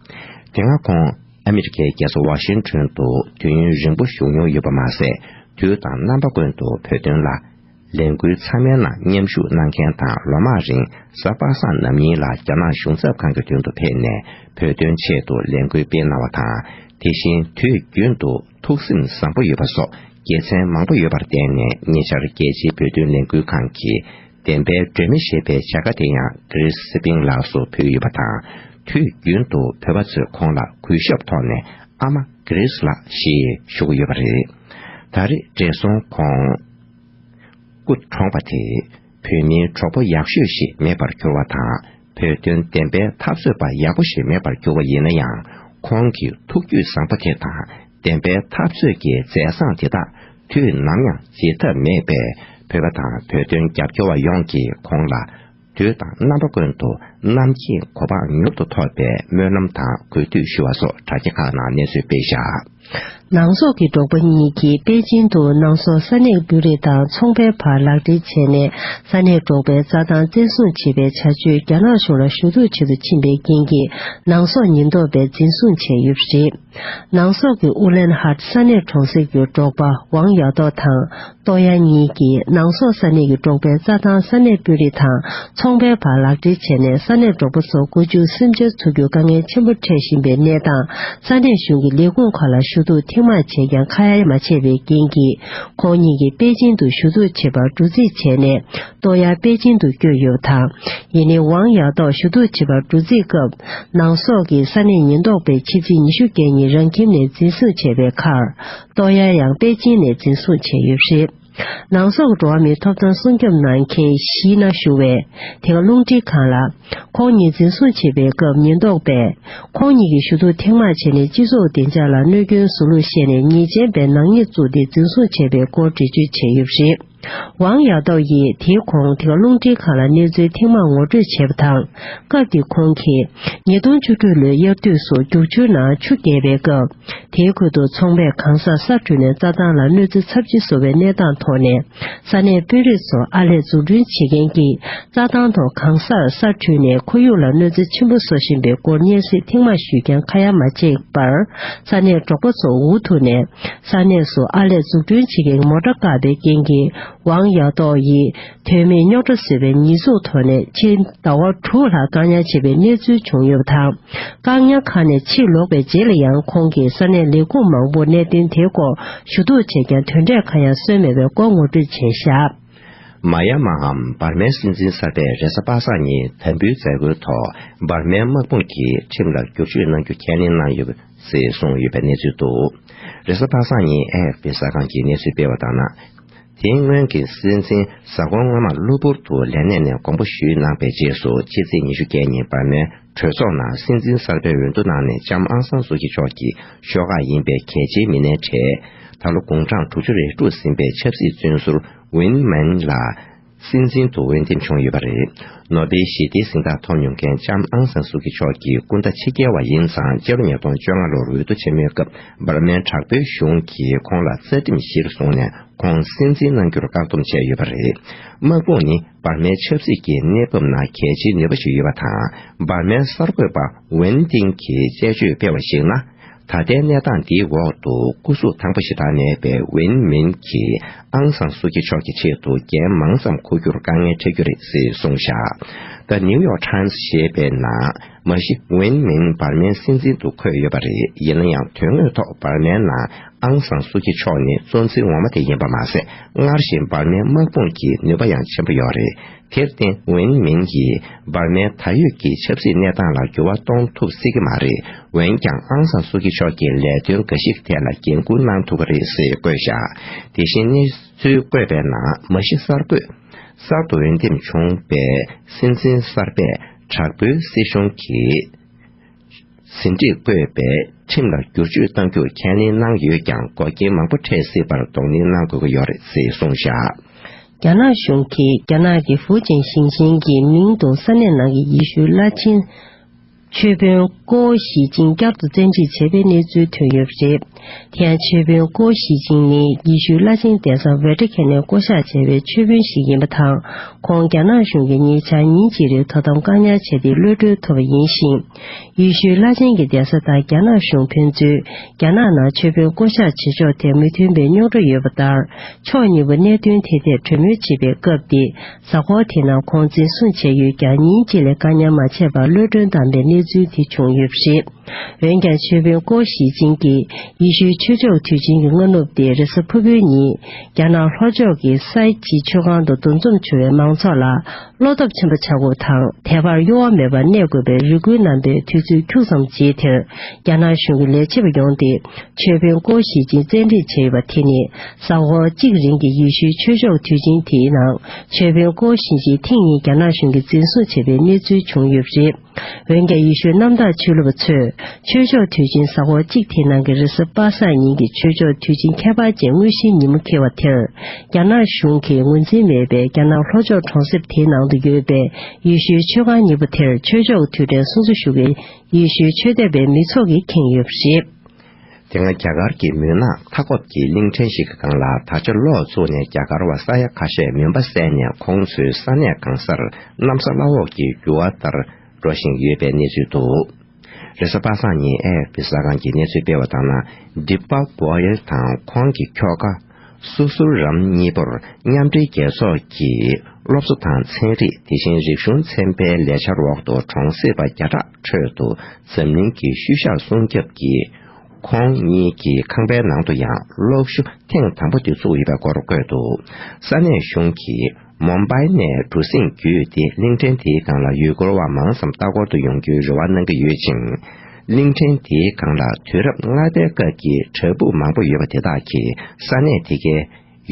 དེ་སྔ་ཁོང་ཨ་མི་རི་ཀའི་རྒྱལ་ས་ཝ་ཤིན་ཁྲོན་དུ་དུས་ཡུན་རིང་པོ་བཞུགས་མྱོང་ཡོད་པ་མ་ཟད་དུས་དང་རྣམ་པ་ཀུན་ཏུ་བོད་དོན་ལ་ལས་འགུལ་ཚང་མའི་ནང་མཉམ་ཞུགས་གནང་མཁན་དང་ལོ་མང་རིང་གཟའ་པ་སངས་ནམ་ཉིན་ལ་རྒྱ་ནག་གཞུང་ཚབ་ཁང་གི་མདུན་དུ་ཕེབས་ནས་བོད་དོན་ཆེད་དུ་ལས་འགུལ་སྤེལ་གནང་བ་དང་དེ་བཞིན་དུས་རྒྱུན་དུ། ཐུགས་སེམས་བཟང་པོ་ཡོད་པ་སོགས་དགེ་མཚན་མང་པོ་ཡོད་པར་བརྟེན་ནས་ཉེ་ཆར་རྒྱལ་སྤྱིའི་བོད་དོན་ལས་འགུལ་ཁང་གི་བདེན་པའི་སྒྲོན་མེ་ཞེས་པའི་བྱ་དགའ་དེ་ཡང་ཀྲིས་སི་པིང་ལགས་སུ་ཕུལ་ཡོད་པ་དང་དུས་རྒྱུན་དུ་བོད་པ་ཚོས་ཁོང་ལ་གུས་ཞབས་ཐོག་ནས་ཨ་མ་ཀྲིས་ལགས་ཞེས་ཞུ་གི་ཡོད་པ་རེད། ད་རེས་བགྲེས་སོང་ཁོང་སྐུ་གྲོངས་པ་དེས་བོད་མིའི་གྲོགས་པོ་ཡག་ཤོས་ཤིག་མེད་པར་གྱུར་བ་དང། བོད་དོན་བདེན་པའི་འཐབ་རྩོད་པ་ཡག་པོ་ཞིག་མེད་པར་གྱུར་བ་ཡིན་ན་ཡང་ཁོང་གི་ཐུགས་རྒྱུད་བཟང་པོ་དེ་དང་བདེན་པའི་འཐབ་རྩོད་ཀྱི་མཛད་བཟང་དེ་དག་དུས་ནམ་ཡང་བརྗེད་ཐབས་མེད་པས་བོད་པ་དང་བོད་དོན་རྒྱབ་སྐྱོར་བ་ཡོངས་ཀྱིས་ཁོང་ལ་དུས་དང་རྣམ་པ་ཀུན་ཏུ་གནམ་གྱི་གོ་འཕང་མྱུར་དུ་ཐོབ་པའི་སྨོན་ལམ་དང་གུས་འདུད་ཞུ་བ་སོགས་དྲ་རྒྱ་ཁག་ནང་གནས་ཚུལ་སྤེལ་བཞག། ནང་སོག་གི་འབྲོག་པ་གཉིས་ཀྱིས་པེ་ཅིང་དུ་ནང་སོག་ས་གནས་འབུད་རེས་དང་ཚོང་པའི་བར་ལག་འབྲེལ་བྱས་ནས་ས་གནས་འབྲོག་པའི་རྩྭ་ཐང་བཙན་བཟུང་བྱེད་པའི་བྱ་སྤྱོད་རྒྱ་ནག་གཞུང་ལ་ཞུ་གཏུག་བྱེད་དུ་ཕྱིན་པའི་རྐྱེན་གྱིས་ནང་སོག་ཉེན་རྟོག་པས་འཛིན་བཟུང་བྱས་ཡོད་པ་རེད། ནང་སོག་གི་ཨུ་ལན་ཧར་ས་གནས་གྲོང་གསེབ་ཀྱི་འབྲོག་པ་ཝང་ཡ་ཏོག་དང། ཏོག་དབྱང་གཉིས་ཀྱིས་ནང་སོག་ས་གནས་ཀྱི་འབྲོག་པའི་རྩྭ་ཐང་ས་གནས་དཔོན་རིགས་དང་ཚོང་པའི་བར་ལག་འབྲེལ་བྱས་ནས་ས་གནས་འབྲོག་པ་ཚོ་བཀོལ་སྤྱོད་སེམས་ཅན་འཚོ་རྒྱུར་དཀའ་ངལ་ཆེན་པོ་འཕྲད་བཞིན་པའི་གནས་སྟངས་ས་གནས་གཞུང་གི་ལས་ཁུངས་ཁག་ལ་ཞུ་གཏུག་ཐེངས་མང་བྱས་ཀྱང་ཁ་ཡ་མ་བྱས་པའི་རྐྱེན་གྱིས་ཁོང་གཉིས་ཀྱིས་པེ་ཅིང་དུ་ཞུ་གཏུག་བྱེད་པར་འགྲོ་རྩིས་བྱས་ནས་ཏོག་དབྱང་པེ་ཅིང་དུ་བསྐྱོད་ཡོད་དང་ཡེ་ནི་ཝང་ཡག་ཏོག་ཞུ་གཏུག་བྱེད་པར་འགྲོ་རྩིས་སྐབས་ནང་སོག་གི་ས་གནས་ཉེན་རྟོག་པས་ཕྱི་ཚེས་ཉི་ཤུ་བརྒྱད་ཉིན་རང་ཁྱིམ་ནས་འཛིན་བཟུང་བྱས་པའི་ཁར་ཏོ་ཡཱ་ཡང་པེ་ཅིན་ནས་འཛིན་བཟུང་བྱས་ཡོད་པ་རེད། ནང་སོག་འགྲོ་བ་མིའི་ཐོབ་ཐང་སྲུང་སྐྱོབ་གནང་མཁན་ཞིག་ན་ཞུགས་བས་དེ་ག་རླུང་འཕྲིན་ཁང་ལ། ཁོང་གཉིས་འཛིན་བཟུང་བྱེད་པའི་སྐབས་ཉེན་རྟོག་པས་ཁོང་གཉིས་ཀྱི་ཞུ་གཏུག་ཐེངས་མང་བྱས་ནས་སྤྱི་ཚོགས་བདེ་འཇགས་ལ་གནོད་སྐྱོན་བཟོ་ལུགས་བཤད་ནས་ཉེས་ཅན་པའི་ནག་ཉེས་བཙུགས་ཏེ་འཛིན་བཟུང་བྱས་པའི་སྐོར་འགྲེལ་བརྗོད་བྱས་ཡོད་པ་རེད། ཝང་ཡག་ཏོག་ཡིས་དེའི་གོང་དེ་ག་རླུང་འཕྲིན་ཁང་ལ་གནས་ཚུལ་ཐེངས་མང་ངོ་སྤྲོད་བྱས་པ་དང། སྐབས་དེ་ཁོང་གིས་ཉིས་སྟོང་བཅུ་དྲུག་ལོའི་དབྱར་དུས་སུ་རྒྱུག་ཆུའི་ནང་ཆུ་རྒྱས་པའི་སྐབས་དེའི་ཁུལ་དུ་ཚོང་པས་གང་སར་ས་བྲུས་ནས་རྩྭ་ཐང་ལ་གནོད་འཚེ་ཚབས་ཆེ་བཟོ་བའི་གནས་སྟངས་ཐོག་ནས་ས་གནས་དཔོན་རིགས་ཚོ་ཨར་ལས་འཛུགས་སྐྲུན་བྱེད་མཁན་གྱིས་རྩྭ་ཐང་ཐོག་གང་སར་ས་བྲུས་ནས་ཁོར་ཡུག་ལ་གནོད་འཚེ་ཆེན་པོ་བཟོ་བཞིན་པའི་སྐོར་སྙན་སེང་ཐེངས་མང་ཞུས་ཀྱང་ཁ་ཡ་མ་བྱས་པར་ས་གནས་འབྲོག་པ་ཚོ་འུ་ཐུག་ནས་ས་གནས་སུ་ཨར་ལས་འཛུགས་སྐྲུན་བྱེད་མཁན་མོ་ཀྲ་ཀ་པའི་རྐྱེན་གྱིས་ཝང་ཡའོ་ཏོའོ་ཡིས་དོན་མེད་རྙོག་དྲ་བཟོས་པའི་ཉེས་འཛུགས་ཐོག་ནས་ཕྱིར་ཟླ་བ་དྲུག་ལྷག་བཀག་ཉར་བྱས་པའི་གནས་ཚུལ་བྱུང་ཡོད་པ་དང། བཀག་ཉར་ཁང་ནས་ཕྱིར་ལོག་པའི་རྗེས་ལ་ཡང་ཁོང་གིས་ས་གནས་ལས་ཁུངས་མང་པོར་གནད་དོན་དེའི་སྐོར་ཞུ་གཏུག་བྱས་ཀྱང་དོན་འབྲས་གང་ཡང་སོན་མེད་པའི་སྐོར་ངོ་སྤྲོད་བྱས་བཞག། མ་ཡ་མའམ་འབར་མའི་སྲིད་འཛིན་གསར་པས་རེ་ས་པ་སངས་ཉིན་དམ་འབུལ་མཛད་སྒོའི་ཐོག་འབར་མའི་དམག་དཔུང་གིས་ཁྲིམས་ལ་བསྒྱུར་བཅོས་གནང་རྒྱུ་ཁས་ལེན་གནང་ཡོད། ཟེར་གསུངས་ཡོད་པའི་གནས་ཚུལ་འདུག་རེས་གཟའ་ཕག་སང་ཉིན AFP གཟའ་ཁང་གིས་གནས་ཚུལ་སྤེལ་བ་ལྟར་ན། དེའི་སྔོན་གྱི་སྲིད་འཛིན་གཟའ་འཁོར་སྔོན་མར་གློ་བུར་དུ་ལས་གནས་ནས་དགོངས་པ་ཞུས་གནང་པའི་རྗེས་སུ་ཕྱི་ཚེས་ཉི་ཤུ་བརྒྱད་ཉིན་འབར་མའི་གྲོས་ཚོགས་ནང་སྲིད་འཛིན་གསར་པའི་འོས་བསྡུ་གནང་ནས་ལྕམ་ཨང་སང་སུའུ་སྐྱིད་མཆོག་གི་ཤོག་ཁག་ཡིན་པའི་གལ་ཆེའི་མི་སྣའི་གྲས། ད་ལོ་དགུང་གྲངས་དྲུག་ཅུ་རེ་དཀྲུགས་ཟིན་པའི་ཆབ་སྲིད་བཙོན་ཟུར Win Myint ལ། སྲིད་འཛིན་དུ་འོས་འདེམས་བྱུང་ཡོད་པ་རེད། ནོ་སྦེལ་ཞི་བདེའི་གཟེངས་རྟགས་ཐོབ་མྱོང་མཁན་ལྕམ་ཨང་སན་སུའུ་ཀི་མཆོག་གི་སྐུ་ཟླ་ཕྱི་རྒྱལ་བ་ཡིན་ཙང་སྤྱི་ལོ་ཉིས་སྟོང་བཅོ་ལྔ་ལོར་འོས་བསྡུ་ཆེན་མོའི་སྐབས་འབར་མའི་དྲག་པོའི་གཞུང་གིས་ཁོང་ལ་རྩ་ཁྲིམས་གཞིར་བཟུང་ནས་ཁོང་སྲིད་འཛིན་གནང་རྒྱུར་བཀག་སྡོམ་བྱས་ཡོད་པ་རེད། དམག་དཔུང་ནི་འབར་མའི་ཆབ་སྲིད་ཀྱི་གནས་བབ་ནང་གལ་ཆེའི་ནུས་པ་ཞིག་ཡོད་པ་དང་འབར་མའི་གསར་འགོད་པ་ཝན་ཏིང་གིས་དཔྱད་བརྗོད་སྤེལ་བར་གཞིགས་ན། ད་ལྟའི་གནས་སྟངས་འདིའི་འོག་ཏུ་སྐུ་གཟུགས་ཐང་པོ་ཞེ་དྲག་མེད་པའི་ཝིན་མིན་གྱིས་ཨང་སང་སུའུ་སྐྱིད་མཆོག་གི་ཆེད་དུ་རྒྱན་མང་ཙམ་འཁུར་རྒྱུར་དཀའ་ངལ་འཕྲད་རྒྱུ་རེད་ཟེར་གསུངས་བཞག་ད་ནིའུ་ཡོག་ཁྲཱིམས་ཞེས་པའི་ནང་མ་གཞི་ཝིན་མིན་འབར་མའི་སྲིད་འཛིན་དུ་འཁོད་ཡོད་པ་རེད་ཡིན་ན་ཡང་དོན་དངོས་ཐོག་འབར་མའི་ནང་ཨང་སང་སུའུ་སྐྱིད་མཆོག་ནི་གཙོ་འཛིན་ངོ་མ་དེ་ཡིན་པ་མ་ཟད་སྔར་བཞིན་འབར་མའི་དམག་དཔུང་གི་ནུས་པ་ཡང་ཆེན་པོ་ཡོད་རེད། དེར་བརྟེན་ཝེན་མིན་གྱིས་འབར་མའི་ད་ཡོད་ཀྱི་ཆབ་སྲིད་གནས་སྟངས་ལ་འགྱུར་བ་གཏོང་ཐུབ་སྲིད་ཀྱི་མ་རེད་འོན་ཀྱང་ཨང་སང་སུའུ་ཀི་མཆོག་གིས་ལས་དོན་འགའ་ཞིག་ཐད་ལ་འགན་ཁུར་གནང་ཐུབ་ཀྱི་རེད་ཟེར་བཀོད་བཞག་དེ་བཞིན་གནས་ཚུལ་བཀོད་པའི་ནང་མ་གཞི་གསར་འགོད་གསར་དུ་འོས་འདེམས་བྱུང་བའི་སྲིད་འཛིན་གསར་པས་དྲག་པོའི་སྲིད་གཞུང་གི། ཟིན་བྲིས་བཀོད་པས་ཁྲིམས་ལ་བསྒྱུར་བཅོས་གཏང་རྒྱུར་ཁས་ལེན་གནང་ཡོད་ཀྱང་འགོག་རྐྱེན་མང་པོ་འཕྲད་སྲིད་པར་གདོང་ལེན་གནང་དགོས་ཀྱི་ཡོད་རེད་ཅེས་གསུངས་བཞག། རྒྱ་ནག་གཞུང་གིས་རྒྱ་ནག་གི་ཧྥུའུ་ཅན་ཞིང་ཆེན་གྱི་མིང་དུ་ས་གནས་ནང་གི་ཡེ་ཤུ་བླ་ཆེན། ཆོས་དཔོན་ཀོའོ་ཞི་ཅིང་བསྐྱར་དུ་བཙན་ཁྲིད་བྱས་པའི་གནས་ཚུལ་ཐོན་ཡོད་པ་རེད། དེ་ཡང་མཆོད་དཔོན་ཀོའུ་ཞི་ཅིང་ནི་ཡེ་ཤུའི་བླ་ཆེན་ལྡན་ས་ཝེ་ཏྲེ་ཁེ་ནས་བསྐོ་བཞག་བྱས་པའི་མཆོད་དཔོན་ཞིག་ཡིན་པ་དང་ཁོང་རྒྱ་ནག་གཞུང་གིས་ཉེ་ཆར་ཉིན་གཅིག་རེའི་དོ་དམ་བཀག་ཉར་བྱས་ཏེ་གློད་གྲོལ་ཐོབ་པ་ཡིན་ཞིང། ཡེ་ཤུའི་བླ་ཆེན་གྱི་ལྡན་ས་དང་རྒྱ་ནག་གཞུང་ཕན་ཚུན་རྒྱ་ནག་ནང་མཆོད་དཔོན་བསྐོ་བཞག་བྱེད་ཕྱོགས་ཐད་མི་མཐུན་པའི་རྙོག་དྲ་ཡོད་པ་ལྟར་ཕྱོགས་གཉིས་པོ་གནད་དོན་དེ་ཐད་གྲོས་མོལ་བྱེད་པའི་སྐབས་ཏེ་གཟའ་འཁོར་དེ་ནང་ཁོང་འཛིན་བཟུང་བྱས་ཡོད་ཀྱང་ཉིན་གཅིག་ལས་བཀའ་ཉར་མ་བྱས་པར་གློད་བཀྲོལ་བཏང་པའི་གནས་ཚུལ་དེ་བྱུང་ཡོད་པ་རེད། འོན་ཀྱང་ཆོས་དཔོན་ཀོའོ་ཞི་ཅིན་གྱིས་ཡེ་ཤུའི་ཆོས་ཕྱོགས་དུས་ཆེན་གྱི་སྔ་ནུབ་སྟེ་རེས་གཟའ་ཕུར་བུའི་ཉིན་རྒྱ་ནག་ལྷོ་ཕྱོགས་ཀྱི་སའི་ཇི་ཆོས་ཁང་དུ་འདུ་འཛོམས་བྱུང་བའི་མང་ཚོགས་ལ་བློ་སྟོབས་ཆེན་པོ་བྱ་དགོས་པ་དང་དད་པར་གཡོ་བ་མེད་པར་གནས་དགོས་པའི་རེ་སྐུལ་གནང་པའི་དུས་ཚོད་འཁྱུགས་ཙམ་རྗེས་དེར་རྒྱ་ནག་གཞུང་གི་ལས་བྱེད་པ་ཡོང་སྟེ་ཆོས་དཔོན་ཀོའོ་ཞི་ཅིན་བཙན་ཁྲིད་བྱས་ཡོད་པ་དེ་ནི་ཟ་ཧོར་གཅིག་རིང་གི་ཡུལ་ཤུལ་ཆོས་ཕྱོགས་དུས་ཆེན་དེའི་ནང་ཆོས་དཔོན་ཀོའོ་ཞིན་ཞིས་ཐིང་གཉིས་རྒྱ་ནག་གཞུང་གིས་འཛིན་བཟུང་བྱས་པའི་གནས་ཚུལ་བྱུང་ཡོད་པ་རེད། འོན་ཀྱང་ཡུལ་ཤུལ་གནམ་བདག་ཆོས་ལུགས་པ་ཚོས་ཆོས་ཕྱོགས་དུས་ཆེན་ཟ་ཧོར་གཅིག་དེའི་ནང་གི་རེས་གཟའ་པ་སངས་ཉིན་གྱི་ཆོས་ཕྱོགས་དུས་ཆེན་ཁྱད་པར་ཅན་དངོས་གཞིའི་ཉིན་མོ་འཁེལ་བ་དེར་རྒྱ་ནག་གཞུང་གིས་ངོས་འཛིན་མེད་པའི་རྒྱ་ནག་ལྷོ་ཕྱོགས་གྲོང་གསེབ་དེའི་ནང་དུ་ཡོད་པའི་ཡུལ་ཤུལ་ཆོས་ཁང་གཉིས་པོ་དེར་ཆོས་ཕྱོགས་དུས་དྲན་སྲུང་བརྩི་ཞུ་མཁན་ཡུལ་ཤུལ་ཆོས་དད་པའི་མི་ཚོགས་ཀྱིས་ཁེངས་ཡོད་པ་རེད། དེ་སྔ་རྒྱ་གར་གྱི་མུན་ནག་མཐའ་འཁོབ་ཀྱི་གླིང་ཕྲན་ཞིག་གང་ལ་ད་ཆ་ལོག་བཙུགས་ནས་རྒྱ་གར་བ་ས་ཡ་ཁ་ཤས་མུན་པ་བསལ་ནས་ཁོང་ཚོའི་ས་གནས་གང་སར་གནམ་ས་བླ་འོག་གི་རྒྱུ་བ་ལྟར་འགྲོ་བཞིན་ཡོད་པའི་གནས་ཚུལ་འདུག་རེས་གཟའ་པ་སངས་ཉིན་ཨེ་ཧེ་པི་ཟ་ཁང་གིས་གནས་ཚུལ་སྤེལ་བ་ལྟར་ན Deepak Goel དང་ཁོང་གི་ཁྱོ་ག་སོ་སོར་རམ་གཉིས་པོར་མཉམ་འབྲེལ་རྒྱལ་ཚོགས་ཀྱི་སློབ་གསོ་དང་ཚན་རིག་དེ་བཞིན་རིག་གཞུང་ཚན་པའི་ལས་འཆར་འོག་ཏུ་གྲོང་གསེབ་པ་བརྒྱ་ཕྲག་ཁྲོད་དུ་འཛམ་གླིང་གི་ཤུལ་བཞག་སྲུང་སྐྱོབ་ཀྱིས་ཁོང་གཉིས་ཀྱི་ཁང་པའི་ནང་དུ་ཡང་སློབ་ཞུགས་ཐེངས་དང་པོ་དེ་བཙུགས་ཡོད་པའི་སྐོར་བཀོད་འདུག་ས་གནས་གཞུང་གིས་མོ་འབའ་ནས་གྲུ་གཟིངས་བརྒྱུད་དེ་གླིང་ཕྲན་དེའི་སྒང་ལ་ཡུལ་སྐོར་བ་མང་ཙམ་ལྟ་སྐོར་དུ་ཡོང་རྒྱུའི་རེ་བ་གནང་གི་ཡོད་ཅིང། གླིང་ཕྲན་དེའི་སྒང་ལ་དུས་རབས་ལྔ་པའི་སྐབས་ཀྱི་བྲག་ཕུག་མང་པོ་ཡོད་པ་དེ་དག་གིས་ས་གནས་དེ་གའི་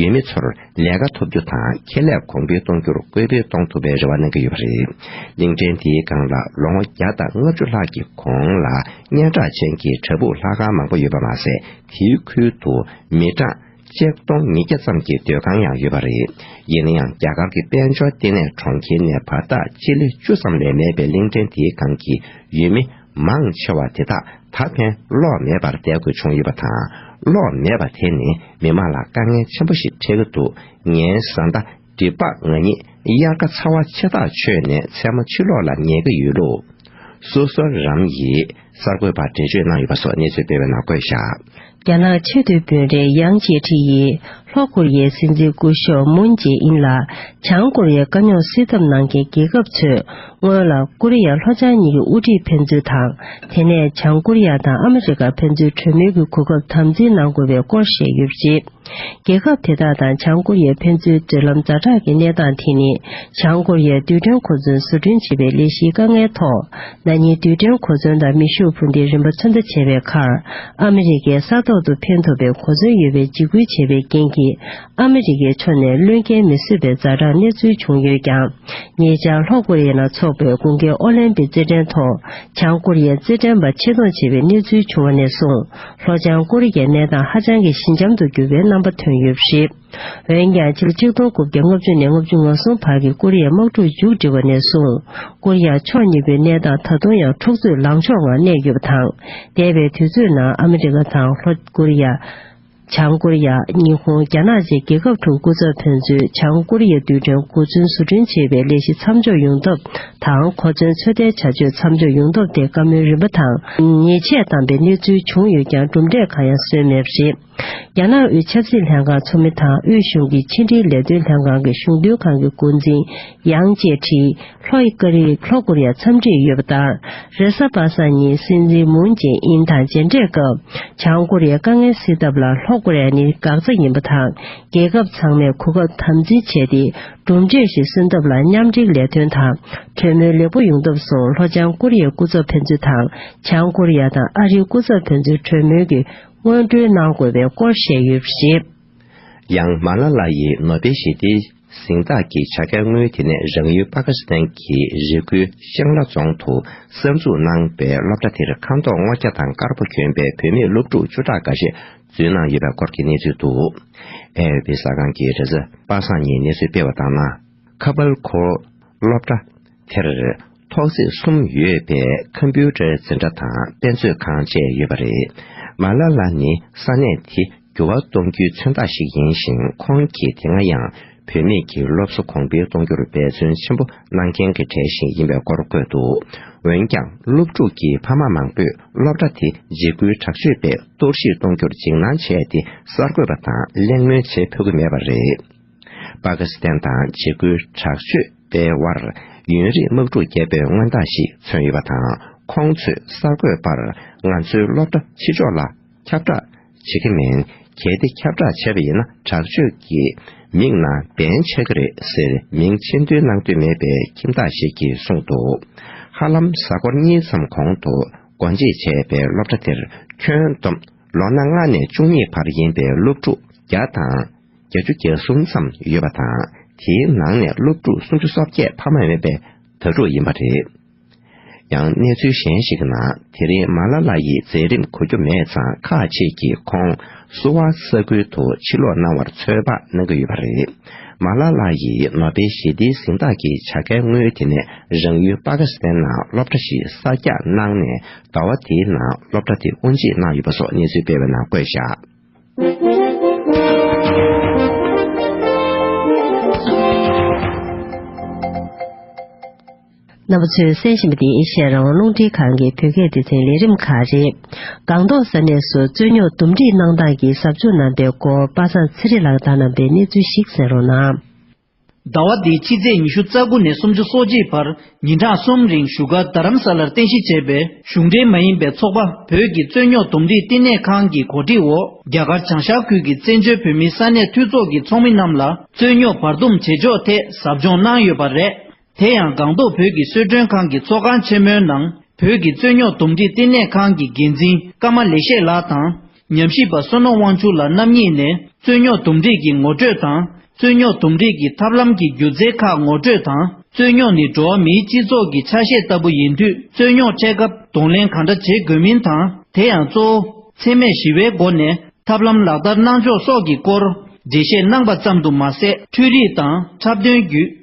ཡུལ་མི་ཚོར་ལས་ཀ་ཐོབ་རྒྱུ་དང་ཁེ་ལས་གོང་འཕེལ་གཏོང་རྒྱུར་སྐུལ་སྤེལ་གཏོང་ཐུབ་པའི་རེ་བ་གནང་གི་ཡོད་པ་རེད། གླིང་ཕྲན་དེའི་སྒང་ལ་ལོ་ངོ་བརྒྱ་དང་ལྔ་བཅུ་ལྷག་གི་གོང་ལ་སྙན་གྲགས་ཅན་གྱི་བྲག་ཕུག་ལྷ་ཁང་མང་པོ་ཡོད་པ་མ་ཟད་དེའི་ཁུལ་དུ་མི་གྲངས་སྤྱད་སྟོང་ཉིས་བརྒྱ་ཙམ་གྱི་སྡོད་ཁང་ཡང་ཡོད་པ་རེད། ཡིན་ན་ཡང་རྒྱ་གར་གྱི་དཔལ་འབྱོར་ལྟེ་གནས་གྲོང་ཁྱེར་ནས་བར་ཐག་སྤྱི་ལེ་བཅུ་ཙམ་ལས་མེད་པའི་གླིང་ཕྲན་དེའི་སྒང་གི་ཡུལ་མི་མང་ཆེ་བ་དེ་དག་ད་ཕན་གློག་མེད་པར་བསྡད་དགོས་བྱུང་ཡོད་པ་དང་གློག་མེད་པ་དེ་ནི་མི་མང་ལ་དཀའ་ངལ་ཆེན་པོ་ཞིག་འཕྲད་ཀྱི་འདུག་ངའི་བཟའ་ཟླ་འདི་དཔག་ང་ཉིད་དབྱར་ཁ་ཚ་བ་ཆེ་ཐག་ཆོད་ནས་མཚན་མོ་ཕྱི་ལོག་ལ་ཉལ་གི་ཡོད་ལུགས། སོ་སོར་རམ་ཡིག་གསར་འགོད་པར་འགྲེལ་བརྗོད་གནང་ཡོད་པ་སོགས་གནས་ཚུལ་སྤེལ་བའི་ནང་བཀོད་བཞག། རྒྱ་ནག་ཆེས་མཐོའི་དཔོན་རིགས་དབྱང་ཅེ་ཁྲི་ཡིས་ལྷོ་ཀོ་རི་ཡའི་སྲིད་འཛིན་སྐུ་ཞོགས་མུན་ཇེ་ཨིན་ལ་བྱང་ཀོ་རི་ཡའི་དཀའ་རྙོག་སེལ་ཐབས་གནང་མཁན་རྒྱལ་ཁབ་ཚོས་སྔོན་ལ་ཀོ་རི་ཡ་ལྷོ་བྱང་གཉིས་ཀྱི་དབུ་ཁྲིད་ཕན་ཚུན་དང་དེ་ནས་བྱང་ཀོ་རི་ཡ་དང་ཨ་མི་རི་ཀ་ཕན་ཚུན་གྲོས་མོལ་གྱི་གོ་སྐབས་དམ་འཛིན་གནང་དགོས་པའི་སྐོར་བཤད་ཡོད་པ་རེད། རྒྱལ་ཁབ་དེ་དག་དང་བྱང་ཀོ་རི་ཡའི་ཕན་ཚུན་འབྲེལ་ལམ་ཛར་དྲག་གི་གནས་སྟངས་དེ་ནི་བྱང་ཀོ་རི་ཡའི་རྡུལ་ཕྲན་གོ་མཚོན་བཟོ་སྐྲུན་བྱེད་པའི་ལས་གཞིའི་དཀའ་ངལ་ཐོག་ན་ནི་རྡུལ་ཕྲན་གོ་མཚོན་དང་མེ་ཤུགས་འཕུར་མདེལ་རིམ་པ་ཚོད་ལྟ་བྱས་པའི་ཁར་ཨ་མི་རི་ཀའི་ས་ཐོག་ཏུ་འཕེན་ཐུབ་པའི་གོ་མཚོན་ཡོད་པའི་འཇིགས་སྐུལ་བྱས་པའི་རྐྱེན་གྱིས་ཨ་མི་རི་ཀའི་ཕྱོགས་ནས་བློས་འགེལ་མི་བཟོད་པའི་ཛར་དྲག་གནས་ཚུལ་བྱུང་ཡོད་ཀྱང་ཉེ་ཆར་ལྷོ་ཀོ་རི་ཡའི་ནང་འཚོགས་པའི་དགུན་ཁའི་ཨོ་ལིམ་པི་རྩེད་འགྲན་ཐོག་བྱང་ཀོ་རི་ཡའི་རྩེད་འགྲན་པ་ཆེ་མཐོང་བྱེད་པའི་གནས་ཚུལ་བྱུང་བ་ནས་བཟུང་ལྷོ་བྱང་ཀོ་རི་ཡའི་གནས་སྟངས་ཧ་ཅང་གི་ཞི་འཇམ་དུ་གྱུར་པའི་རྣམ་པ་ཐོན་ཡོད་པ་རེད། འོན་ཀྱང་ཕྱི་ལོ་གཅིག་སྟོང་དགུ་བརྒྱ་ལྔ་བཅུ་ནས་ལྔ་བཅུ་ང་གསུམ་བར་གྱི་ཀོ་རི་ཡའི་དམག་འཁྲུག་མཇུག་སྒྲིལ་བ་ནས་བཟུང་ཀོ་རི་ཡ་ཕྱོགས་གཉིས་པོའི་གནས་སྟངས་ད་དུང་ཡང་འཁྲུག་རྩོད་ལངས་ཕྱོགས་ངང་གནས་ཡོད་པ་དང། འདས་པའི་དུས་ཚོད་ནང་ཨ་མི་རི་ཀ་དང་ལྷོ་ཀོ་རི་ཡ། བྱང་ཀོ་རི་ཡ། ཉི་ཧོང་རྒྱ་ནག་བཅས་རྒྱལ་ཁབ་དྲུག་སྐུ་ཚབ་ཕན་ཚུན་བྱང་ཀོ་རི་ཡའི་རྡུལ་ཕྲན་འགོ་འཛུན་བཟོ་སྐྲུན་བྱེད་པའི་ལས་གཞི་མཚམས་འཇོག་ཡོང་ཐབས་དང་གོ་མཚོན་ཚོད་ལྟའི་བྱ་སྤྱོད་མཚམས་འཇོག་ཡོང་སྟོབས་དེ་བཀའ་མོལ་རིམ་པ་དང་ཉེས་ཆད་བཏང་པའི་གནས་ཚུལ་བྱུང་ཡོད་ཀྱང་གྲུབ་འབྲས་གང་ཡང་སོན་མེད་པ་རེད། རྒྱ་ནག་དབུས་ཆབ་སྲིད་ལྷན་ཁང་ཚོགས་མི་དང་དབུས་གཞུང་གི་ཕྱི་འབྲེལ་ལས་དོན་ལྷན་ཁང་གི་གཞུང་དོན་ཁང་གི་འགོ་འཛིན་དབྱང་ཅེ་ཁྲི་ལྷོ་ཨི་ཀ་རི་ལྷོ་ཀོ་རི་ཡར་འཚམས་འདྲི་ཡོད་པ་དང་རེ་ས་པ་སངས་ཉིན་སྲིད་འཛིན་མུན་ཅེ་ཨིན་དང་མཇལ་འཕྲད་སྐབས་བྱང་ཀོ་རི་ཡའི་དཀའ་ངལ་སེལ་ཐབས་ལ་ལྷོ་ཀོ་རི་ཡ་ནི་འགག་རྩ་ཡིན་པ་དང་རྒྱལ་ཁབ་ཚང་མས་གོ་སྐབས་དམ་འཛིན་བྱས་ཏེ་གྲུབ་འབྲས་བཞིན་གསོན་ཐབས་ལ་མཉམ་འབྲེལ་ལས་དོན་དང་གྲོས་མོལ་ལེགས་པོ་ཡོང་ཐབས་སུ་ལྷོ་བྱང་ཀོ་རི་ཡའི་སྐུ་ཚབ་ཕན་ཚུན་དང་བྱང་ཀོ་རི་ཡ་དང་ཨ་རིའི་སྐུ་ཚབ་ཕན་ཚུན་གྲོས་མོལ་གྱི་སྔོན་འགྲོའི་གནང་དགོས་པའི་སྐོར་བཤད་ཡོད་པ་རེད། ཡང་མཱ་ལ་ལ་ཡི་ནོ་སྦེལ་ཞི་བདེའི་གཟེངས་རྟགས་ཀྱི་བྱ་དགའ་དངུལ་དེ་ནས་རང་ཡུལ་པ་ཀ་སི་ཐན་གྱི་རི་ཁུལ་ཤང་ལ་རྫོང་དུ་གསར་འཛུགས་གནང་པའི་སློབ་གྲྭ་དེར་ཁང་ཐོག་སྔོ་སྐྱ་དང་དཀར་པོ་གྱོན་པའི་བུད་མེད་སློབ་ཕྲུག་བཅུ་ཕྲག་འགའ་ཤས་བརྫུན་ནང་ཡོད་པའི་སྐོར་གྱི་གནས་ཚུལ་འདུག་བལ་འོས་པའི་ཟ་ཁང་གི་རེས་གཟའ་པ་སངས་ཉིན་གནས་ཚུལ་སྤེལ་བ་ལྟར་ན། ཁ་པར་གོ། སློབ་གྲྭ། དེར། ཐོག་བརྩེགས་གསུམ་ཡོད་པའི་ཁམ་པུའུ་ཏར་འཛིན་གྲྭ་དང་དཔེ་མཛོད་ཁང་བཅས་ཡོད་པ་རེད། མ་ལ་ལ་ནི་ས་གནས་དེ་འགྱུར་བ་གཏོང་རྒྱུའི་མཚོན་རྟགས་ཤིག་ཡིན་ཞིང་ཁོང་གིས་དེ་སྔ་ཡང་བུད་མེད་ཀྱི་སློབ་གསོ་གོང་འཕེལ་གཏོང་རྒྱུར་འབད་བརྩོན་ཆེན་པོ་གནང་མཁན་གྱི་གྲས་ཤིག་ཡིན་པའི་སྐོར་བཀོད་འདུག་འོན་ཀྱང་སློབ་ཕྲུག་གི་ཕ་མ་མང་པོས་སློབ་གྲྭ་དེ་འཇིགས་སྐུལ་དྲག་སྤྱོད་པས་གཏོར་བཤིག་གཏོང་རྒྱུར་འཇིགས་སྣང་བྱས་ཏེ་གསར་འགོད་པ་དང་གླེང་མོལ་བྱེད་ཕོད་ཀྱི་མེད་པ་རེད། པ་ཀི་སི་ཐན་དང་འཇིགས་སྐུལ་དྲག་སྤྱོད་པའི་དབར་ཡུན་རིང་དམག་འཁྲུག་བརྒྱབ་པའི་མངོན་རྟགས་ཤིག་མཚོན་ཡོད་པ་དང་ཁོང་ཚོས་གསར་འགོད་པར་ང་ཚོའི་སློབ་གྲྭ་ཕྱི་ཕྱོགས་ལ་ཁྱབ་བསྒྲགས་བྱེད་ཀྱི་མིན། གལ་ཏེ་ཁྱབ་བསྒྲགས་བྱས་པ་ཡིན་ན་དྲག་སྤྱོད་ཀྱི་མིང་ནང་འདན་ཆགས་ཀྱི་རེད་ཟེར་མིང་ཆེན་འདོན་གནང་འདོད་མེད་པའི་ཁྱིམ་བདག་ཞིག་གིས་གསུངས་འདུག་ཧ་ལམ་གཟའ་འཁོར་གཉིས་ཙམ་གོང་དུ་སྒོ་འབྱེད་བྱས་པའི་སློབ་གྲྭ་དེར་ཁྱོན་བསྡོམས་ལོ་ན་ལྔ་ནས་བཅུ་གཉིས་བར་ཡིན་པའི་སློབ་ཕྲུག་བརྒྱ་དང་བརྒྱ་ཅུ་གྱ་གསུམ་ཙམ་ཡོད་པ་དང་དེའི་ནང་ནས་སློབ་ཕྲུག་སུམ་ཅུ་སོ་བརྒྱད་ཕ་མ་མེད་པའི་དྭ་ཕྲུག་ཡིན་པ་རེད། ཡང་གནས་ཚུལ་གཞན་ཞིག་གི་ནང་དེ་རིང་མཱ་ལ་ལ་ཡི་མཛད་རིམ་གོ་རྒྱུ་མེད་ཙང་ཁག་ཅིག་གིས་ཁོང་གསོ་བ་ས་ཁུལ་དུ་ཕྱིར་ལོག་གནང་བར་ཚོད་དཔག་གནང་གི་ཡོད་པ་རེད། མཱ་ལ་ལ་ཡིས་ནོ་སྦེལ་ཞི་བདེའི་གཟེངས་རྟགས་ཀྱི་བྱ་དགའི་དངུལ་དེ་ནས་རང་ཡུལ་པ་ཀི་སི་ཐན་ནང་སློབ་གྲྭ་ཞིག་གསར་རྒྱག་གནང་ནས་ཟླ་བ་དེའི་ནང་སློབ་གྲྭ་དེ་དབུ་འབྱེད་གནང་ཡོད་པ་སོགས་གནས་ཚུལ་སྤེལ་བའི་ནང་བཀོད་བཞག། རྣམ་པ་ཚོས་གསན་བཞིན་པ་འདི་བཤད་རང་རླུང་འཕྲིན་ཁང་གི་བོད་སྐད་སྡེ་ཚན་ལས་རིམ་ཁག་རེད། སྒང་ཏོག་ས་གནས་སུ་རྩོད་རྙོག་འདུམ་སྒྲིག་གནང་སྟངས་ཀྱི་ཟབ་སྦྱོང་གནང་པའི་སྐོར་དཔའ་ཚང་ཚེ་རིང་ལགས་དང་གནང་པའི་གནས་ཚུལ་ཞིག་གསན་རོགས་གནང། ཟླ་བ་འདིའི་ཕྱི་ཚེས་ཉི་ཤུ་རྩ་དགུ་ནས་སུམ་ཅུ་སོ་གཅིག་བར་ཉིན་གྲངས་གསུམ་རིང་བཞུགས་སྒར་རྡ་རམ་ས་ལར་རྟེན་གཞི་བྱས་པའི་གཞུང་འབྲེལ་མ་ཡིན་པའི་ཚོགས་པ་བོད་ཀྱི་རྩོད་རྙོག་འདུམ་སྒྲིག་བསྟི་གནས་ཁང་གི་གོ་སྒྲིག་འོག་རྒྱ་གར་བྱང་ཤར་ཁུལ་གྱི་བཙན་བྱོལ་བོད་མིའི་ས་གནས་འཐུས་ཚོགས་ཀྱི་ཚོགས་མི་རྣམས་ལ་རྩོད་རྙོག་བར་འདུམ་བྱེད་ཕྱོགས་ཐད་ཟབ་སྦྱོང་གནང་ཡོད་པ་རེད། དེ་ཡང་སྒང་ཏོག་བོད་ཀྱི་གསོལ་མགྲོན་ཁང་གི་ཚོགས་ཁང་ཆེན་མོའི་ནང་བོད་ཀྱི་རྩོད་རྙོག་འདུམ་འགྲིག་བསྟི་གནས་ཁང་གི་འགན་འཛིན་ཀརྨ་ལེགས་བཤད་ལགས་དང། ཉམས་ཞིབ་པ་བསོད་ནོར་དབང་ཕྱུག་ལགས་རྣམ་གཉིས་ནས་རྩོད་རྙོག་འདུམ་འགྲིག་གི་ངོ་སྤྲོད་དང་རྩོད་རྙོག་འདུམ་འགྲིག་གི་ཐབས་ལམ་གྱི་སྒྱུ་རྩལ་ཁག་ངོ་སྤྲོད་དང་རྩོད་རྙོག་ནི་འགྲོ་བ་མིའི་སྤྱི་ཚོགས་ཀྱི་ཆ་ཤས་ལྟ་བུ་ཡིན་དུས་རྩོད་རྙོག་འཕྲད་སྐབས་གདོང་ལེན་གང་འདྲ་བྱེད་དགོས་མིན་དང་དེ་ཡང་གཙོ་བོ་འཚེ་མེད་ཞི་བའི་སྒོ་ནས་ཐབས་ལམ་ལག་བསྟར་གནང་ཕྱོགས་སོགས་ཀྱི་སྐོར་འགྲེལ་བཤད་གནང་པ་ཙམ་དུ་མ་ཟད་འཕྲུལ་རིག་དང་འཁྲབ་སྟོན་བརྒྱུད།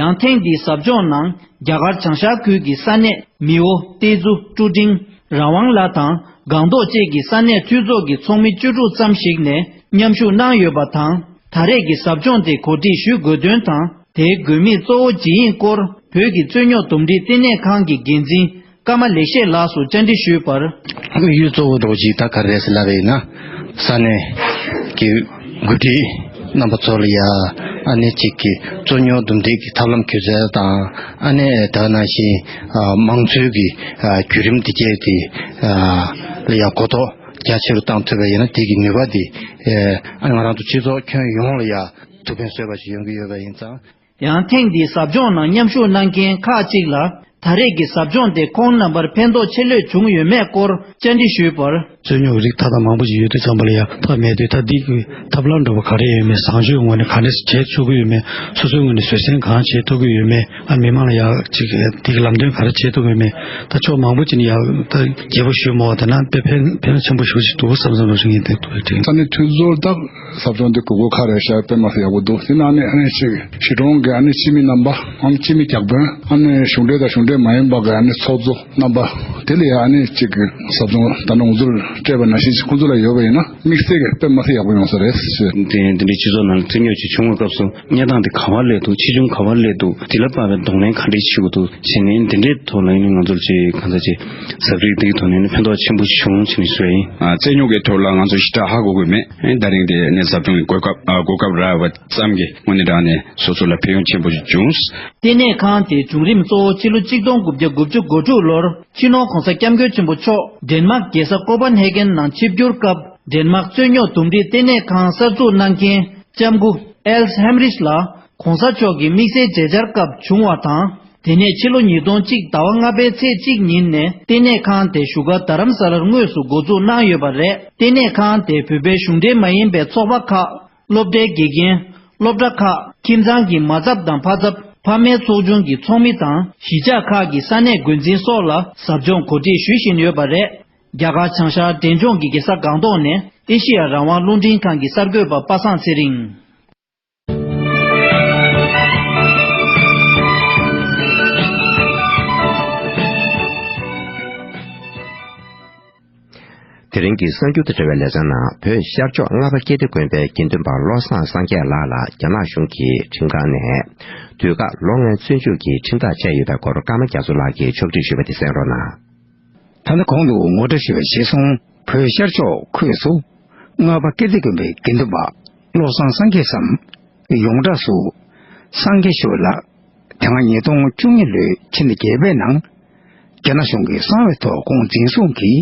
ཡང་ཐེངས་འདིའི་ཟབ་སྦྱོང་ནང་རྒྱ་གར་བྱང་ཤར་ཁུལ་གྱི་ས་གནས་མིའོ་ཏེ་ཛུ་ཀྲུའུ་ཀྲིང་རང་དབང་ལགས་དང་སྒང་ཏོག་བཅས་ཀྱི་ས་གནས་འཐུས་ཚོགས་ཀྱི་ཚོགས་མི་བཅུ་དྲུག་ཙམ་ཞིག་ནས་མཉམ་ཞུགས་གནང་ཡོད་པ་དང་ད་རེས་ཀྱི་ཟབ་སྦྱོང་དེ་གོ་སྒྲིག་ཞུས་དགོས་དོན་དང་དེའི་དགོས་དམིགས་གཙོ་བོ་ཇི་ཡིན་སྐོར་བོད་ཀྱི་རྩོད་རྙོག་འདུམ་འགྲིག་ལྟེ་གནས་ཁང་གི་འགན་འཛིན་ཀརྨ་ལེགས་བཤད་ལགས་སུ་བཅར་འདྲི་ཞུས་པར། དབུས་གཡུལ་གཙོ་བོ་རྡོ་རྗེ་ད་ག་རེས་ལ་བས་ན་ས་གནས་ཀྱི་འགོ་ཁྲིད་རྣམ་པ་ཚོ་ལ་ཡ་ཨ་ནེ་གཅིག་གི་རྩོད་རྙོག་འདུམ་འགྲིག་གི་ཐབས་ལམ་གྱོད་ཚད་དང་ཨ་ནེ་ཨེ་ད་ན་བཞིན་དམངས་གཙོའི་གི་བརྒྱུད་རིམ་འདི་བརྒྱད་དེ་ལ་ཡ་གོ་རྟོགས་རྒྱ་ཆེ་རུ་བཏང་ཐུབ་པས་ཡ་ན་དེ་གི་ནུས་པ་དེ་ཨ་ང་རང་དང་སྤྱི་ཚོགས་ཁྱོན་ཡོངས་ལ་ཡ་ཐུབ་ཕན་སོས་པ་ཞིག་ཡོང་གི་ཡོད་པ་ཡིན་ཙང། ཡང་ཐེངས་འདིའི་ཟབ་སྦྱོང་ནང་མཉམ་ཞུགས་གནང་མཁན་ཁག་ཅིག་ལ་ད་རེས་ཀྱི་ཟབ་སྦྱོང་དེ་ཁོང་རྣམ་པར་ཕན་ཐོགས་ཆེ་ལོས་བྱུང་ཡོད་མེད་སྐོར་བཅར་འདྲི་ཞུས་པར། རྩོད་རྙོག་གི་རིགས་མཐའ་དག་མང་པོ་ཞིག་ཡོད་དུས་ཚང་མ་ལ་ཡང་ཐབས་མེད་དུས་ཐ་དད་ཀྱི་ཐབས་ལམ་འདྲ་བོ་ག་རེ་ཡོད་མེད་བཟང་སྤྱོད་ངོས་ནས་ག་འདྲ་ཞིག་བྱས་ཚུགས་ཀྱི་ཡོད་མེད་སོ་སོའི་ངོས་ནས་བཟོད་བསྲན་གང་བྱས་ཐུབ་ཀྱི་ཡོད་མེད་ཨ་མི་མང་ལ་ཡང་ཅིག་འདི་གི་ལམ་སྟོན་ག་རེ་བྱས་ཐུབ་ཡོད་མེད་ད་ཕྱོགས་མང་པོ་ཅིག་ནས་ཡང་རྒྱས་པོ་ཞུས་མོ་བ་ད་ནང་དཔེ་ཕན་ཕན་ཆེན་པོ་ཞུ་བཞིན་འདུག་བསམ་བསམ་རང་བཞིན་ངེས་དེ་ཐུགས་རེ་བྲིས། ས་གནས་འཐུས་ཚོར་དག་ཟབ་སྦྱོང་འདི་གོས་སྐོར་ཁ་རས་ཤར་པད་མ་སུ་ཡག་པོ་འདུག་དེ་ནང་ནས་ཨ་ནེ་གཅིག་གཞིས་གྲོང་གི་ཨ་ནེ་སྤྱི་མི་རྣམ་པ་འམ་སྤྱི་མི་གྱགས་དཔོན་ཨ་ནེ་གཞུང་འབྲེལ་དང་གཞུང་འབྲེལ་མ་ཡིན་པ་གི་ཨ་ནེ་ཚོགས་གཙོ་རྣམ་པ་དེ་ལ་ཡང་ཨ་ནེ་གཅིག་གི་ཟབ་སྦྱོང་ད་ནངས་ཚུར་སྤྲད་པ་ནང་བཞིན་ཁོང་ཚོ་ལ་ཡོད་པ་ཡིན་ན་དམིགས་བསལ་གྱི་པད་མ་སུ་ཡག་པོ་ཡོང་ས་རེད་ཟེར། དེ་ཡང་འདི་འདྲའི་སྤྱི་ཚོགས་ནང་བཙན་གཉོས་ཀྱི་ཆུང་ངུ་སྐབས་སུ། གཉའ་ཐང་དེ་ག་བར་ལས་འདུག་ཆེ་ཆུང་ག་བར་ལས་འདུག་དེ་ལ་དཔག་པའི་གདོང་ལེན་ག་འདྲས་བྱེད་དགོས་འདུག་བྱས་ནས་འདི་འདྲའི་ཐོག་ལ་ཡིན་ནའི་ང་ཚོར་ཅི་གང་ཟག་ཅིག་གཟབ་རིགས་འདིའི་ཐོག་ནས་ཕན་ཐོགས་ཆེན་པོ་བྱུང་བྱས་ནས་སུའི། རྩལ་ཉོག་གི་ཐོག་ལ་ང་ཚོ་ཞི་དྲག་ཧ་གོ་དགོས་མེད་ད་རིང་དེ་ནས་ཟབ་སྦྱོང་གི་གོ་སྐབས་གོ་སྐབས་རག་པ་ཙམ་གྱི་སྔོན་ནས་བསྒྲགས་ནས་སོ་སོ་ལ་ཕན་ཡོང་ཆེན་པོ་བྱུང། ལྟེ་གནས་ཁང་དེའི་བྱུང་རིམ་གཙོ་བོ་ཕྱི་ལོ་གཅིག་སྟོང་དགུ་བརྒྱ་དགུ་བཅུ་གོ་དྲུག་ལོར་ཕྱི་ནོར་གོང་ས་སྐྱབས་མགོན་ཆེན་པོ་མཆོག་འདན་མ་རྒྱལ་ས་ཀོ་པཱ་ནྷེ་གྷན་ནང་ཆིབས་བསྒྱུར་སྐབས་འདན་མ་རྩོད་ཉོག་འདུམ་འགྲིག་ལྟེ་གནས་ཁང་གསར་འཛུགས་གནང་རྐྱེན། ལྕམ་སྐུ་ཨེལ་ཧེམ་རིས་ལགས ྋགོང་ས་མཆོག་གི་དམིགས་བསལ་མཇལ་བཅར་སྐབས་བྱུང་བ་དང། དེ་ནས་ཕྱི་ལོ་ཉིས་སྟོང་གཅིག་ཟླ་བ་ལྔ་པའི་ཚེས་གཅིག་ཉིན་ནས་ལྟེ་གནས་ཁང་དེ་བཞུགས་སྒར་རྡ་རམ་ས་ལར་དངོས་སུ་འགོ་འཛུགས་གནང་ཡོད་པ་རེད། ལྟེ་གནས་ཁང་དེ་བོད་པའི་གཞུང་འབྲེལ་མ་ཡིན་པའི་ཚོགས་པ་ཁག་སློབ་གྲྭའི་དགེ་རྒན། སློབ་གྲྭ་ཁག་ཁྱིམ་ཚང་གི་མ་ཚབ་དང་ཕ་ཚབ་ཕ་མའི་ཚོགས་ཆུང་གི་ཚོགས་མི་དང་གཞིས་ཆགས་ཁག་གི་ས་གནས་འགོ་འཛིན་སོགས་ལ་ཟབ་སྦྱོང་གོ་སྒྲིག་ཞུ་བཞིན་ཡོད་པ་རེད། རྒྱ་གར་བྱང་ཤར་འབྲས་ལྗོངས་ཀྱི་གེ་སར་སྒང་ཏོག་ནས་ཨེ་ཤེ་ཡ་རང་དབང་རླུང་འཕྲིན་ཁང་གི་གསར་འགོད་པ་པ་སངས་ཚེ་རིང། དེ་རིང་གི་གསར་འགྱུར་དང་འབྲེལ་བའི་ལེ་ཚན་ནང་བོད་ཤར་ཕྱོགས་རྔ་པ་སྐྱེ་སྟེ་དགོན་པའི་དགེ་འདུན་པ་བློ་བཟང་སངས་རྒྱས་ལགས་ལ་རྒྱ་ནག་གཞུང་གི་ཁྲིམས་ཁང་ནས་དུས་བཀག་ལོ་ལྔའི་བཙོན་འཇུག་གི་ཁྲིམས་ཐག་བཅད་ཡོད་པའི་སྐོར་ཀརྨ་རྒྱ་མཚོ་ལགས་ཀྱིས་ཕྱོགས་སྒྲིག་ཞུས་པ་དེ་གསན་རོགས་གནང། ད་ལྟ་གོང་དུ་ངོ་སྤྲོད་བྱས་པའི་བཞེད་སྲུང་བོད་ཤར་ཕྱོགས་ཁུལ་དུ་རྔ་པ་ཀིརྟི་དགོན་པའི་དགེ་འདུན་པ་བློ་བཟང་སངས་རྒྱས་སམ། ཡོངས་གྲགས་སུ། སངས་རྒྱས་ཤོས་ལགས། དེ་སྔ་ཉིས་སྟོང་བཅུ་གཉིས་ལོའི་ཕྱི་ཟླ་བརྒྱད་པའི་ནང། རྒྱ་ནག་གཞུང་གི་གསང་བའི་ཐོག་ཁོང་འཛིན་བཟུང་གིས་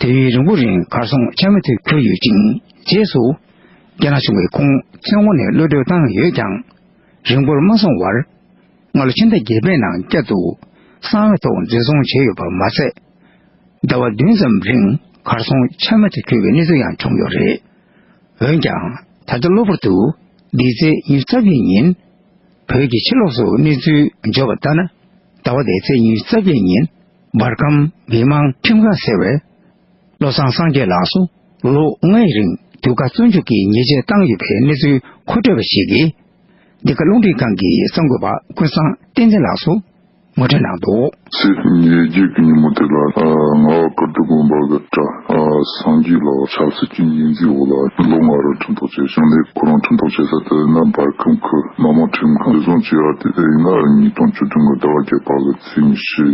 དུས་ཡུན་རིང་པོ་རིང་གར་སོང་ཆ་མེད་དུ་གྱུར་ཡོད་ཅིང་རྗེས་སུ་རྒྱ་ནག་གཞུང་གིས་ཁོང་བཙོན་འོག་ནས་གློད་གྲོལ་བཏང་ཡོད་ཀྱང་རིང་པོར་མ་སོང་བར། སྔ་ལོ་ཕྱི་ཟླ་བརྒྱད་པའི་ནང་བསྐྱར་དུ་གསང་བའི་ཐོག་འཛིན་བཟུང་བྱས་ཡོད་པ་མ་ཟད། ཟླ་བ་བདུན་ཙམ་རིང་གར་སོང་ཆ་མེད་དུ་གྱུར་བའི་གནས་ཚུལ་ཡང་བྱུང་ཡོད་རེད། འོན་ཀྱང་ད་ལྟ་གློ་བུར་དུ་འདི་ཚེས་ཉིན་རྩ་བརྒྱད་ཉིན་བོད་ཀྱི་ཕྱི་ལོགས་སུ་གནས་ཚུལ་འབྱོར་བ་ལྟར་ན། ཟླ་བ་དེའི་ཚེས་ཉིན་རྩ་བརྒྱད་ཉིན་འབར་ཁམས་མི་དམངས་ཁྲིམས་ཁང་ཟེར་བས། བློ་བཟང་སངས་རྒྱས་ལགས་སུ་ལོ་ལྔའི་རིང་དུས་བཀག་བཙོན་འཇུག་གི་ཉེས་ཆད་བཏང་ཡོད་པའི་གནས་ཚུལ་མཁོ་སྤྲོད་པ་ཞིག་གིས། འདི་ག་རླུང་འཕྲིན་ཁང་གི་གསར་འགོད་པ་ཀུན་བཟང་བསྟན་འཛིན་ལགས་སུ་ངོ་སྤྲོད་གནང་འདུག། ཚེས་ཉེར་བརྒྱད་ཀྱི་ཉིན་མོ་དེ་ལ་རྔ་བ་ཀིརྟི་དགོན་པ་གི་གྲྭ་སངས་རྒྱས་ལགས་ཆབ་སྲིད་ཀྱི་འགན་འཛིན་འོག་ལ་ལོ་ལྔ་རུ་ཁྲིམས་ཐོག་བཅད་བྱུང་ལས་ཁོ་རང་ཁྲིམས་ཐོག་བཅད་ས་དེ་ནི་འབར་ཁམས་ཁུལ་མི་དམངས་ཁྲིམས་ཁང་བདེ་སྲུང་བཅས་ཨར་ཏི་ཨེ་ལྔ་ཉིས་སྟོང་བཅུ་བདུན་གྱི་ཟླ་བ་བརྒྱད་པ་གི་ཚེས་ཉེར་བཞི་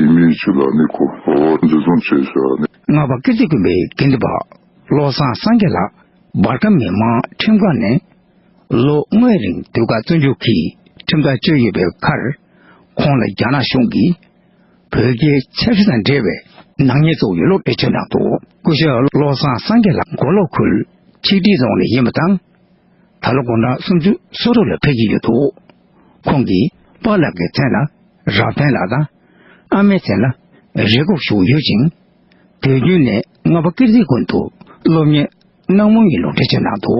ཡས་མས་བཅུ་ལ་གནས་སྐོར་འོག་འཛིན་བཟུང་བཅད་བྱས་པ་རེད། རྔ་བ་ཀིརྟི་དགོན་པའི་དགེ་འདུན་པ་བློ་བཟང་སངས་རྒྱས་ལགས་འབར་ཁམས་མི་དམངས་ཁྲིམས་ཁང་ནས། ལོ་ལྔའི་རིང་ཟློས་གར་བཙོན་འཇུག་གི་ཁྲིམས་ཐག་གཅོད་ཡོད་པའི་ཁར། ཁོང་ལ་རྒྱ་ནག་གཞུང་གིས་བོད་རྒྱའི་ཆབ་སྲིད་དང་འབྲེལ་བའི་ནག་ཉེས་གཙོ་བོ་ཡོད་ལུགས་འགྲེལ་བརྗོད་གནང་འདུག་སྐུ་ཞབས་བློ་བཟང་སངས་རྒྱས་ལགས་མགོ་ལོག་ཁུལ་ཆིག་སྒྲིལ་རྫོང་ནས་ཡིན་པ་དང། ད་ལོ་དགུང་གྲངས་སུམ་ཅུ་སོ་དྲུག་ལ་ཕེབས་ཀྱི་ཡོད་འདུག་ཁོང་གིས་པཱ་ལགས་ཀྱི་མཚན་ལ་རབ་བརྟན་ལགས་དང། ཨ་མའི་མཚན་ལ་རེ་སྒུག་ཞུ་ཡོད་ཅིང། དུས་རྒྱུན་ནས་རྔ་པ་ཀིརྟི་དགོན་དུ་སློབ་གཉེར་སྣང་མོ་ངའི་ལུང་འདྲེན་བྱེད་ནང་དུ།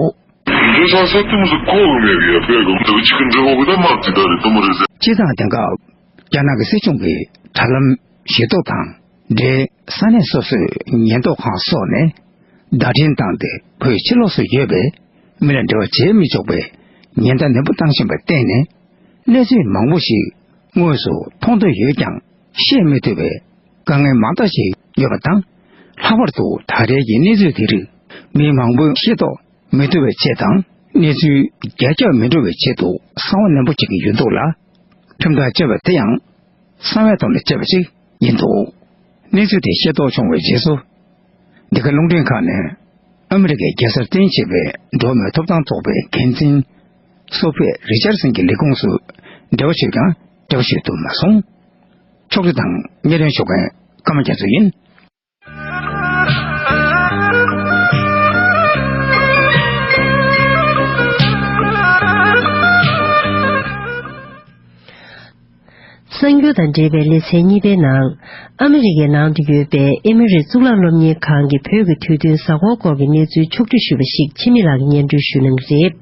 དེ་འདྲའི་ལྷ་སའི་སྟེང་སུ་ཁོག་ལོ་མེད་པའི་ཡར་པས་གོམས་འདུག་གཅིག་གི་འདྲེ་འོ་གི་དར་དམར་དེ་དག་རེད་དོ་མ་རེད། སྤྱི་བཏང་དེང་སྐབས་རྒྱ་ནག་གི་སྲིད་སྐྱོང་གི་དྲ་ལམ་ཞེ་ཐོག་དང་འབྲེལ་ས་གནས་སོ་སོའི་ཉེན་རྟོག་ཁང་སོགས་ནས་བརྡ་འཕྲིན་བཏང་སྟེ་བོད་ཕྱི་ལོགས་སུ་ཡོད་པའི་མི་ལ་འབྲེལ་བ་བྱེད་མི་ཆོག་པའི་ཉེན་བརྡ་ནན་པོ་བཏང་བཞིན་པར་བརྟེན་ནས་གནས་ཚུལ་མང་པོ་ཞིག་དངོས་སུ་མཐོང་ཐོས་ཡོད་ཀྱང་བཤད་མི་ཐུབ་པའི་དཀའ་ངལ་མང་དག་ཞིག་ཡོད་པ་དང། ལྷག་པར་དུ་ད་རེས་ཀྱི་གནས་ཚུལ་དེ་རིགས་མི་མང་པོས་ཤེས་རྟོགས་མི་ཐུབ་པའི་ཆེད་དང་གནས་ཚུལ་རྒྱ་ཁྱབ་མི་འགྲོ་བའི་ཆེད་དུ་གསང་བ་ནན་པོ་བྱེད་ཀྱི་ཡོད་འདུག་ལ། ཁྲིམས་ཐག་བཅད་པ་དེ་ཡང་གསང་བའི་དོན་ལ་བཅད་པ་ཞིག་ཡིན་འདུག་གནས་ཚུལ་དེ་ཤེས་རྟོགས་བྱུང་བའི་རྗེས་སུ། འདི་ག་རླུང་འཕྲིན་ཁང་ནས་ཨ་མི་རི་ཀའི་རྒྱལ་སར་རྟེན་བྱེད་པའི་འགྲོ་བ་མིའི་ཐོབ་ཐང་ཚོགས་པའི་འགན་འཛིན། སོ་ཕེ་རི་ཅར་སན་གྱི་ལས་ཁུངས་སུ་འབྲེལ་བ་བྱོས་ཀྱང་སྐྱོ་ཤོས་དུ་མ་སོང། ཕྱོགས་བསྒྲིགས་དང་གཉེར་ཡོང་ཞུ་མཁན་སྐར་མ་རྒྱ་མཚོ་ཡིན། གསར་འགྱུར་དང་འབྲེལ་བའི་ལེ་ཚན་གཉིས་པའི་ནང། ཨ་མེ་རི་ཁའི་ནང་དུ་ཡོད་པའི་ཨེ་མི་རི་གཙུག་ལག་སློབ་གཉེར་ཁང་གིས་བོད་ཀྱི་དུས་སྟོན་གཟའ་འཁོར་སྐོར་གྱི་གནས་ཚུལ་ཕྱོགས་བསྒྲིགས་ཞུས་པ་ཞིག་ཕྱི་མི་ལག་གི་སྙན་སྒྲོན་ཞུས་གནང་རེད།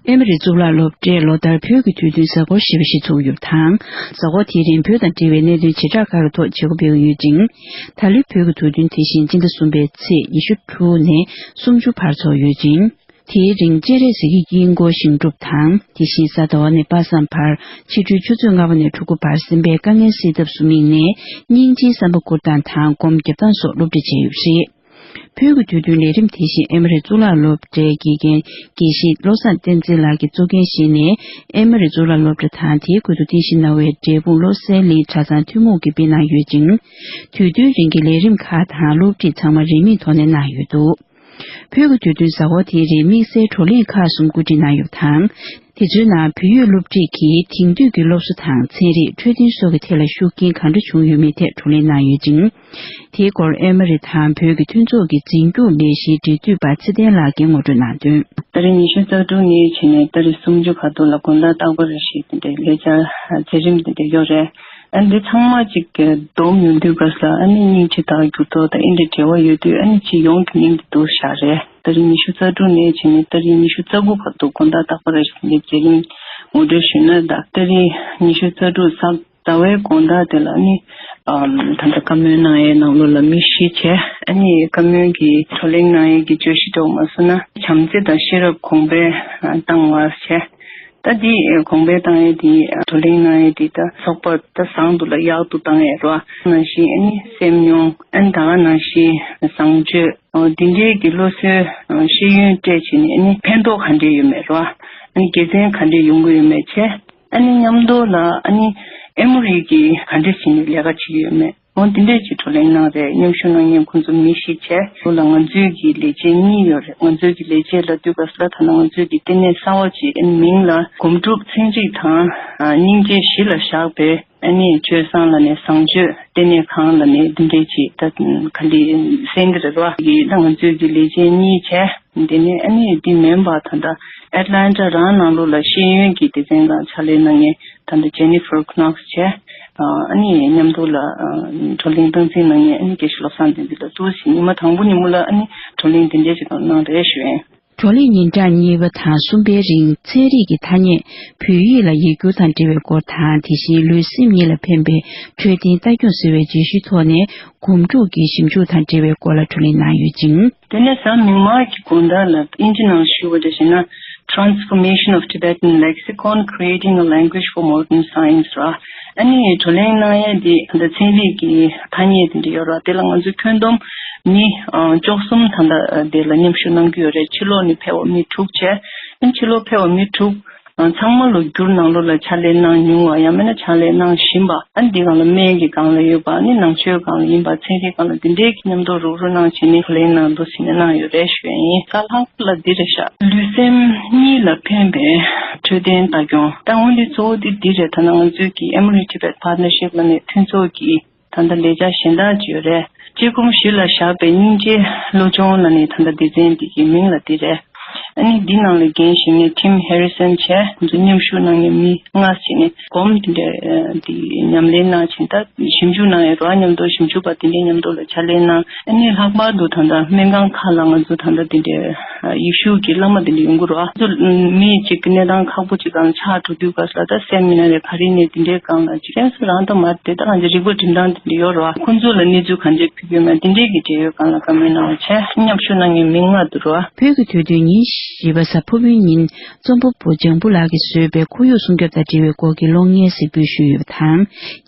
ཨེ་མ་རི་གཙུག་ལག་སློབ་གྲྭས་ལོ་ལྟར་བོད་ཀྱི་དུས་སྟོན་གཟའ་འཁོར་ཞེས་པ་ཞིག་ཚུགས་ཡོད་པ་དང། གཟའ་འཁོར་དེའི་རིང་བོད་དང་འབྲེལ་བའི་གནད་དོན་བྱེ་བྲག་ཁག་གི་ཐོག་བྱེད་སྒོ་སྤེལ་གྱི་ཡོད་ཅིང། ད་ལོའི་བོད་ཀྱི་དུས་སྟོན་དེ་བཞིན་སྤྱི་ཟླ་གསུམ་པའི་ཚེས་ཉི་ཤུ་དྲུག་ནས་སུམ་ཅུ་བར་ཚོགས་ཡོད་ཅིང། དེའི་རིང་སྤྱན་རས་གཟིགས་ཀྱི་དཀྱིལ་འཁོར་ཞིང་སྒྲུབ་དང་དེ་བཞིན་གཟའ་ཟླ་བ་ནས་དཔག་བསམ་བར་ཕྱི་དྲོའི་ཆུ་ཚོད་ལྔ་པ་ནས་དྲུག་པ་བར་སེམས་པའི་དཀའ་ངལ་སེལ་ཐབས་སུ་དམིགས་ནས་སྙིང་རྗེའི་བསམ་པ་བཀུར་སྟངས་དང་སྒོམ་རྒྱབ་སྟངས་སོགས་སློབ་ཁྲིད་བྱས་ཡོད་པ་རེད། བོད་ཀྱི་དུས་སྟོན་ལས་རིམ་དེ་བཞིན་ཨེ་མ་རི་གཙུག་ལག་སློབ་གྲྭའི་དགེ་རྒན་དགེ་བཤེས་བློ་བཟང་བསྟན་འཛིན་ལགས་ཀྱི་གཙོ་འགན་བཞེས་ནས་ཨེ་མ་རི་གཙུག་ལག་སློབ་གྲྭ་དང་དེའི་ཁུལ་དུ་རྟེན་གཞི་གནང་བའི་འབྲས་སྤུངས་བློ་གསལ་གླིང་གྲྭ་ཚང་ཐུན་མོང་གིས་སྤེལ་གནང་ཡོད་ཅིང། དུས་སྟོན་རིང་གི་ལས་རིམ་ཁག་དང་སློབ་ཁྲིད་ཚང་མ་རིན་མེད་ཐོག་ནས་གནང་ཡོད་འདུག་བོད་ཀྱི་དུས་སྟོན་ཟ་ཧོར་དེའི་རིང་དམིགས་བསལ་བགྲོ་གླེང་ཁག་གསུམ་བཀོད་སྒྲིག་གནང་ཡོད་པ་དང། དེ་ཚོའི་ནང་བོད་ཡིག་སློབ་ཁྲིད་ཀྱིས་དེང་དུས་ཀྱི་སློབ་གསོ་དང་ཚན་རིག་འཕྲོད་བསྟེན་སོགས་ཀྱི་ཐད་ལ་ཤུགས་རྐྱེན་གང་འདྲ་བྱུང་ཡོད་མེད་ཐད་བགྲོ་གླེང་གནང་ཡོད་ཅིང། དེའི་སྐོར་ཨེ་མ་རི་དང་བོད་ཀྱི་མཐུན་ཚོགས་ཀྱི་འཛིན་སྐྱོང་ལས་གཞིའི་འབྲེལ་མཐུད་པ་ཚེ་བརྟན་ལགས་ཀྱིས་ངོ་སྤྲོད་གནང་དོན། ཟླ་རེ་ཉི་ཤུ་རྩ་དྲུག་ནི་ཕྱི་ནས་ཟླ་རེ་སུམ་ཅུ་བར་དུ་ལ་དགོན་བདག་སྟག་པ་རི་ཞེས་ལས་འཆར་མཛད་རིམ་དེ་ཡོད་རེད། ཨ་ནི་འདི་ཚང་མ་གཅིག་གི། སྡོམ་མི་འདུས་པ་ས་ཨ་ནི་སྙིང་རྗེ་དང་འགྱུར་ལྡོག་དང་ཨེ་འདྲའི་འབྲེལ་བ་ཡོད་དུས་ཨ་ནི་སྤྱི་ཡོངས་ཀྱི་སྙིང་དེ་དུ་བཞག་རེད། ཟླ་རེ་ཉི་ཤུ་རྩ་དྲུག་ནས་ཕྱི་ནས་ཟླ་རེ་ཉི་ཤུ་རྩ་དགུ་བར་དུ་དགོན་བདག་སྟག་པ་རི་ཞེས་ལས་མཛད་རིམ་ངོ་སྤྲོད་ཞུས་ན་ཟླ་རེ་ཉི་ཤུ་རྩ་དྲུག་ས་ཟླ་བའི་དགོངས་དག་དེ་ལ་ནི། ད་ལྟ་བཀའ་མོལ་གནང་ཡས་གནང་ལུགས་ལ་དམིགས་བཞི་བྱས། ཨ་ནི་བཀའ་མོལ་གྱི་བགྲོ་གླེང་གནང་ཡས་ཀྱི་བརྗོད་གཞི་ཐོག་མ་སོ་ན་བྱམས་བརྩེ་དང་ཤེས་རབ་གོང་འཕེལ་བཏང་བར་བྱས། ད་འདི་གོང་འཕེལ་བཏང་ཡས་འདི་བགྲོ་གླེང་གནང་ཡས་འདི་ད་ཚོགས་པ་ད་བཟང་དུ་ལ་ཡག་ཏུ་བཏང་ཡས་རོ། ནང་བཞིན་ཨ་ནི་སེམས་མྱོང་ཨ་ནི་ད་ག་ནང་བཞིན་བཟང་སྤྱོད་འདི་འདྲའི་གི་བློ་གསོའི་ཤེས་ཡོན་སྤྲད་བྱས་ནས་ཨ་ནི་ཕན་ཐོག་ག་འདྲའི་ཡོད་མེད་རོ། ཨ་ནི་དགེ་མཚན་ག་འདྲའི་ཡོང་གི་ཡོད་མེད་བྱས། ཨ་ནེ་མཉམ་འདོགས་ལ་ཨ་ནེ། ཨེ་མོ་རི་ཀྱིས་ག་འདྲས་བྱས་ནས་ལས་ཀ་བྱེད་ཡོད་མེད་ངོ་འདི་འདྲས་ཀྱི་བགྲོ་གླེང་གནང་རེད་སྙོམས་ཞུགས་གནང་མཁན་ཁོང་ཚོ་མི་ཤེས་ཆེ་ལུགས་ལ་ང་ཚོས་ཀྱི་ལས་བྱེད་གཉིས་ཡོད་རེད་ང་ཚོས་ཀྱི་ལས་བྱེད་ལ་དུས་སྐབས་སུ་ལ་དྭགས་ན་ང་ཚོས་ཀྱི་ལྟེ་གནས་གསང་བ་གཅིག་ཨེ་ནེ་མིང་ལ་སྒོམ་སྒྲུབ་ཚན་གཅིག་དང། སྙིང་རྗེ་བཞི་ལ་བཞག་པའི། ཨ་ནི་ཆོས་བཟང་ལ་ནི་བཟང་སྤྱོད་དེ་ནི་གང་ལ་ནི་འདི་འདྲས་ཀྱི་ད་ག་འདི་སེང་གེ་རིག་པ་ཡི་ལང་ཚོས་ཀྱི་ལས་ཅན་གཉིས་བྱས་འདི་ནི་ཨ་ནི་འདི་མེན་པ་ད་ད Atlanta རང་ནང་ལུགས་ལ་ཤེས་ཡོན་གྱི་སྡེ་ཚན་དང་ཕྱག་ལས་གནང་ངེས་ད་ད Jennifer Knox བྱས་ཨ་ནི་མཉམ་དུ་ལ་བགྲོ་གླེང་སྟངས་འཛིན་གནང་ངེས་ཨ་ནི་དགེ་བཤེས་བློ་བཟང་འདི་འདི་ལ་ལྟོས་ཤིག་ཉི་མ་དང་པོ་ཉིན་མོ་ལ་ཨ་ནི་བགྲོ་གླེང་འདི་འདྲས་ཅིག་གནང་རེ་ཞུ་ཨེ། བགྲོ་གླེང་ཉིན་གྲངས་གཉིས་པ་དང་གསུམ་པའི་རིང་ཚན་རིག་གི་ཐ་སྙད་བོད་ཡིག་ལ་ཡིག་སྒྱུར་དང་འབྲེལ་བའི་སྐོར་དང་དེ་བཞིན་ལུས་སེམས་གཉིས་ལ་ཕན་པའི་འཕྲོད་བསྟེན་ལྟ་སྐྱོང་ཟེར་བའི་བརྗོད་གཞིའི་ཐོག་ནས་སྒོམ་སྒྲུབ་ཀྱི་ཞིབ་འཇུག་དང་འབྲེལ་བའི་སྐོར་ལ་བགྲོ་གླེང་གནང་ཡོད་ཅིང། དེ་ནས་བཟང་མིག་དམར་གྱི་དགོན་བདག་ལ་དབྱིན་ཇི་ནང་ཞུ་བ་དེ་བྱས་ན Transformation of Tibetan Lexicon, Creating a Language for Modern Science ར་ཨ་ནི་ཡའི་བགྲོ་གླེང་གནང་ཡས་དེ་ད་ཚན་རིག་གི་ཐ་སྙད་དེ་འདྲ་ཡོད་ར་དེ་ལ་ང་ཚོས་ཁྱོན་བསྡོམས་ནི་ཅོག་གསུམ་ད་ལྟ་དེ་ལ་མཉམ་ཞུགས་གནང་རྒྱུ་ཡོད་རེད་ཕྱི་ལོག་ནི་ཕལ་བ་མི་དྲུག་བྱས་ཨིན་ཕྱི་ལོག་ཕལ་བ་མི་དྲུག་ཚང་མ་ལོ་རྒྱུར་ནང་ལོ་ལ་ཕྱག་ལས་གནང་མྱོང་བ་ཡང་མེད་ན་ཕྱག་ལས་གནང་བཞིན་པ་ཨ་ནི་དེ་གང་ལ་སྨན་གི་གང་ལ་ཡོད་པ་ཨ་ནི་ནང་ཆོས་གང་ལ་ཡིན་པ་ཚན་རིག་གང་ལ་འདི་འདྲའི་གི་མཉམ་འདོགས་རུག་རུག་གནང་བྱས་ནི་བགྲོ་གླེང་ནང་འདུག་ཟེར་ནས་གནང་ཡོད་རེད་ཞུས་པ་ཡིན་ས་ལྷག་པོ་ལ་འདི་རེད་ཤག། ལུས་སེམས་གཉིས་ལ་ཕན་པའི། འཕྲོད་བསྟེན་ལྟ་སྐྱོང། ད་དངོས་ལས་གཙོ་བོ་དེ་འདི་རེད་ད་ནང་ང་ཚོས་ཀྱི Emory Tibet Partnership ལ་ནས་མཐུན་ཚོགས་ཀྱིས་ད་ལྟ་ལས་བྱ་གཞན་དག་བཅོས་རེད། དཔྱད་སྒོམ་གཞི་ལ་བཞག་པའི་སྙིང་རྗེ་བློ་སྦྱོང་ལ་ནས་ད་ལྟ་སྡེ་ཚན་འདི་ཀྱི་མིང་ལ་འདི་རེད། ཨ་ནི་འདི་ནང་ལས་འགན་བཞེས་མཁན Tim Harrison བྱས་འདུག་མཉམ་ཞུགས་གནང་མཁན་མི་ལྔ་བྱས་ནས་སྒོམ་དེ་འདྲ་དེ་ཉམས་ལེན་གནང་བྱིན་ད་ཞིབ་འཇུག་གནང་ཡོད་རོགས་ཉམས་རྟོགས་ཞིབ་འཇུག་པ་དེ་འདྲའི་ཉམས་རྟོགས་ལ་ཕྱག་ལེན་གནང། ཨ་ནི་ལྷག་པར་དུ་ད་ལྟ་སྨན་ཁང་ཁག་ལ་ང་ཚོ་ད་ལྟ་དེ་འདྲའི་ཡིག་ཤུགས་ཀྱི་བླ་མ་དེ་འདྲ་ཡོང་གི་རོགས་ང་ཚོ་མི་གཅིག་གི་གནས་སྟངས་ཁག་པོ་ཅིག་གང་ཆགས་འགྲོ་དུས་ག་ས་ད་སེམས་མི་ན་རེ་ག་རེ་ནས་དེ་འདྲའི་སྒང་ལ་ཅི་དྲན་སོ་རང་ད་མར་དེ་ད་གང་ཆགས་རིག་པ་འགྲིམ་སྟངས་དེ་འདྲ་ཡོད་རོགས་ཁོང་ཚོ་ལ་གནས་ཚུལ་གང་ཆགས་ཕུལ་ཡོད་མེད་དེ་འདྲའི་གི་འབྲེལ་ཡོད་གང་ལ་བཀའ་མོལ་གནང་བ་བྱས། མཉམ་ཞུགས་གནང་མཁན་མི་མངག་འདུག་རོགས། བོད་ཀྱི་དུས་སྟོན་ཉིན་བཞི་པ་གཟའ་ཕུར་བུའི་ཉིན་རྩོམ་པ་པོ་ལྗང་བུ་ལགས་ཀྱིས་བཟོས་པའི་ཁོར་ཡུག་སྲུང་སྐྱོབ་དང་འབྲེལ་བའི་སྐོར་གྱི་གློག་བརྙན་གཟིགས་འབུལ་ཞུས་ཡོད་པ་དང།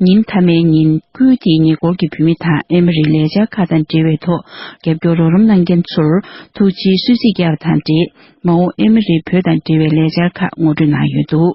ཉིན་མཐའ་མའི་ཉིན་ཁུལ་དེའི་ཉེ་འཁོར་གྱི་བུད་མེད་དང་ཨེ་མ་རིའི་ལས་འཆར་ཁག་དང་འབྲེལ་བའི་ཐོག་རྒྱབ་སྐྱོར་རོགས་རམ་གནང་མཁན་ཚོར་ཐུགས་རྗེའི་གསོལ་ཚིགས་བརྒྱབ་པ་དང་འབྲེལ་མ་འོངས་ཨེ་མ་རིའི་བོད་དང་འབྲེལ་བའི་ལས་འཆར་ཁག་ངོ་སྤྲོད་གནང་ཡོད་འདུག།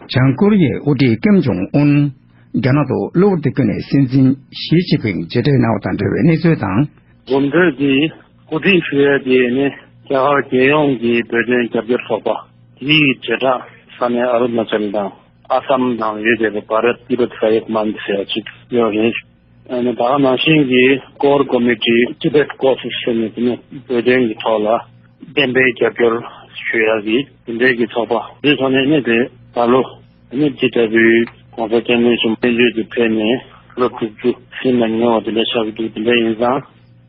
བྱང་ཀོ་རི་ཡའི་དབུ་ཁྲིད་ཀེམ་ཇོང་ཨུན། རྒྱ་ནག་ཏུ་གློ་བུར་དུ་བསྐྱོད་ནས་སྲིད་འཛིན་ཞི་ཅིན་ཕིང་མཇལ་འཕྲད་གནང་བ་དང་འབྲེལ་བའི་གནས་ཚུལ་དང། གོམ་བགྲོད་དེ་གོ་སྒྲིག་ཞུ་ཡུལ་དེ་ནི་རྒྱ་གར་རྒྱལ་ཡོངས་ཀྱི་བོད་དོན་རྒྱབ་སྐྱོར་ཚོགས་པ་དེའི་བྱེ་བྲག་ས་གནས་ཨ་རུ་ན་ཅལ་དང་ཨ་སམ་ནང་ཡོད་པའི་བྷ་རད་ཏི་རུད་ཧྲ་ཡིག་མན་ཚེ་ཨ་ཅིག་ཡོད་རེད། ད་ག་ནང་བཞིན་གྱི Core Committee Tibet Course ཞེས་ནས་དེ་ནས་བོད་དོན་གྱི་ཐོག་ལ་གཏན་འབེབས་རྒྱབ་སྐྱོར་ཞུ་ཡག་གི་དེ་འབྲེལ་གྱི་ཚོགས་པ་འདི་ཚོ་ནས་གནས་དེ་ད་ལོ་གནས་ཇི་ལྟ་བུའི ྋགོང་ས ྋསྐྱབས་མགོན་གསུམ་བསྟན་བཅོས་དེ་ཕེབས་ནས་ལོ་དྲུག་ཅུ་ཟིན་ནམ་ཉེ་བ་དེ་འདྲ་ཆགས་ཀྱི་འདུག་དེ་འདྲ་ཡིན་ཙང་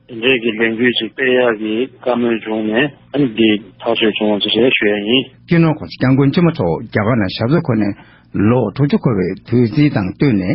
དེ་འབྲེལ་གྱི་ལས་འགུལ་ཞིག་སྤེལ་ཡག་གི་བཀའ་མོལ་བྱུང་ནས་གནས་འདི་ཐག་གཅོད་བྱུང་བ་དེ་རེད་ཞུ་ཡག་ཡིན། སྤྱིར་ནོར ྋགོང་ས ྋསྐྱབས་མགོན་ཆེན་མོ་མཆོག་རྒྱ་གར་ནང་ཞབས་སོར་འཁོད་ནས་ལོ་དྲུག་ཅུ་འཁོར་བའི་དུས་ཚིགས་དང་བསྟུན་ནས།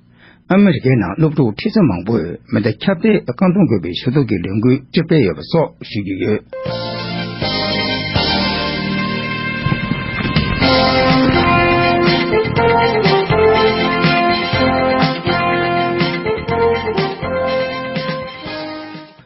ཨ་མི་རི་ཀའི་ནང་སློབ་ཕྲུག་ཁྲི་ཚོ་མང་པོས་མེ་མདའ་ཁྱབ་སྤེལ་རྐང་འཐུང་དགོས་པའི་ཞུ་གཏུག་གི་ལས་འགུལ་ཅིག་སྤེལ་ཡོད་པ་སོགས་ཞུ་རྒྱུ་ཡོད།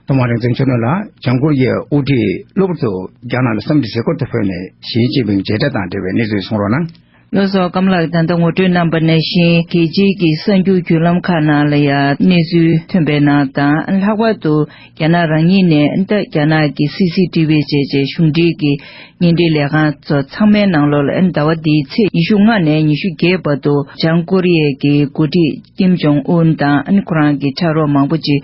ཐོག་མར་རིག་འཛིན་ཆོས་ནོར་ལ་བྱང་ཀོ་རི་ཡའི་དབུ་ཁྲིད་གློ་བུར་དུ་རྒྱ་ནག་ལ་བསམ་འདུན་ཟས་སྐོར་དུ་ཕུལ་ནས་ཞིའི་ཅིན་ཕིང་མཇལ་འཕྲད་དང་འབྲེལ་བའི་གནས་ཚུལ་གསུང་རོགས་གནང། བློ་བཟང་སྐམ་ལགས་ད་ལྟ་ངོ་སྤྲོད་གནང་པ་ནང་བཞིན་རྒྱལ་སྤྱིའི་གི་གསར་འགྱུར་བརྒྱུད་ལམ་ཁག་ནང་ལ་ཡང་གནས་ཚུལ་ཐོན་པའི་ནང་དང་ལྷག་པར་དུ་རྒྱ་ནག་རང་ཉིད་ནས་ད་རྒྱ་ནག་གི་སི་སི་ཏི་བྷི་བཅས་བཅས་གཞུང་འབྲེལ་གི་བརྙན་འཕྲིན་ལས་ཁང་ཚོ་ཚང་མའི་ནང་ལོ་ལ་ཟླ་བ་འདིའི་ཚེས་ཉི་ཤུ་ལྔ་ནས་ཉི་ཤུ་བརྒྱད་བར་དུ་བྱང་ཀོ་རི་ཡའི་གི་འགོ་ཁྲིད་ཀིམ་ཇོང་ཨུན་དང་ཁོ་རང་གི་ཕྲ་རོགས་མང་པོ་ཅིག་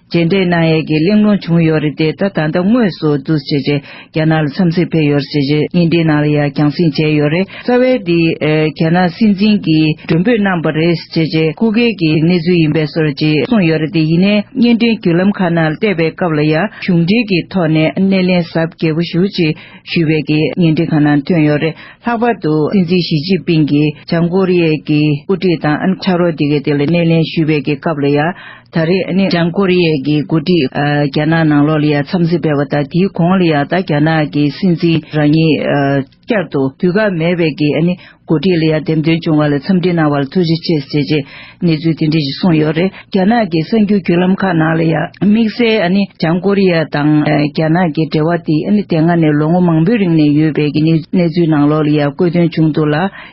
རྗེས་འདེད་གནང་ཡས་ཀྱི་གླེང་སློང་བྱུང་ཡོད་རེད་དེ་ད་ད་ལྟ་དངོས་སུ་བསྡུ་བྱེད་ཀྱིས་རྒྱ་ནག་ལ་འཚམས་གཟིགས་ཕེབས་ཡོད་རེད་ཅེས་ཀྱི་བརྙན་འཕྲིན་ནང་ལ་ཡང་རྒྱང་བསྲིངས་བྱས་ཡོད་རེད་རྩ་བའི་འདི་རྒྱ་ནག་སྲིད་འཛིན་གྱིས་མགྲོན་འབོད་གནང་བ་རེད་ཅེས་ཀྱི་སྐུ་སྒེར་གྱི་གནས་ཚུལ་ཡིན་པས་སོ་རེད་ཅེས་གསུངས་ཡོད་རེད་དེ་ཡིན་ནའི་བརྙན་འཕྲིན་བརྒྱུད་ལམ་ཁག་ནང་ལ་བལྟས་པའི་སྐབས་ལ་ཡང་གཞུང་འབྲེལ་གྱི་ཐོག་ནས་སྣེ་ལེན་གཟབ་རྒྱས་པོ་ཞུ་ཅེས་ཞུས་པའི་ཀྱི་བརྙན་འཕྲིན་ཁག་ནང་ཐོན་ཡོད་རེད་ལྷག་པར་དུ་སྲིད་འཛིན་ཞི་ཅིན་ཕིན་གྱིས་བྱང་ཀོ་རི་ཡའི་ཀྱི་དབུ་ཁྲིད་དང་ཕྱག་རོགས་འདི་གའི་སྟེང་ལ་སྣེ་ལེན་ཞུས་པའི་ཀྱི་སྐབས་ལ་ཡང། ད་རེས་ནི་བྱང་ཀོ་རི་ཡའི་གི་འགོ་ཁྲིད་རྒྱ་ནག་ནང་ལོགས་ལ་ཡང་འཚམས་གཟིགས་སྤེལ་བ་དང་དེའི་གོང་ལ་ཡང་ད་རྒྱ་ནག་གི་སྲིད་འཛིན་རང་ཉིད་བསྐྱར་དུ་དུས་བཀག་མེད་པའི་གི་འགོ་ཁྲིད་ལ་ཡང་འདེམས་ཐོན་བྱུང་བ་ལ་འཚམས་འདྲི་གནང་བ་ལ་ཐུགས་རྗེ་ཆེ་ཞེས་བཅས་གནས་ཚུལ་དེ་འདྲ་ཞིག་གསུངས་ཡོད་རེད་རྒྱ་ནག་གི་གསར་འགྱུར་བརྒྱུད་ལམ་ཁག་ནང་ལ་ཡང་དམིགས་བསལ་བྱང་ཀོ་རི་ཡ་དང་རྒྱ་ནག་གི་འབྲེལ་བ་དེ་དེ་སྔ་ནས་ལོ་ངོ་མང་པོའི་རིང་ནས་ཡོད་པའི་གི་གནས་ཚུལ་ནང་ལོགས་ལ་ཡང་བཀོད་དོན་བྱུང་འདུག་ལ་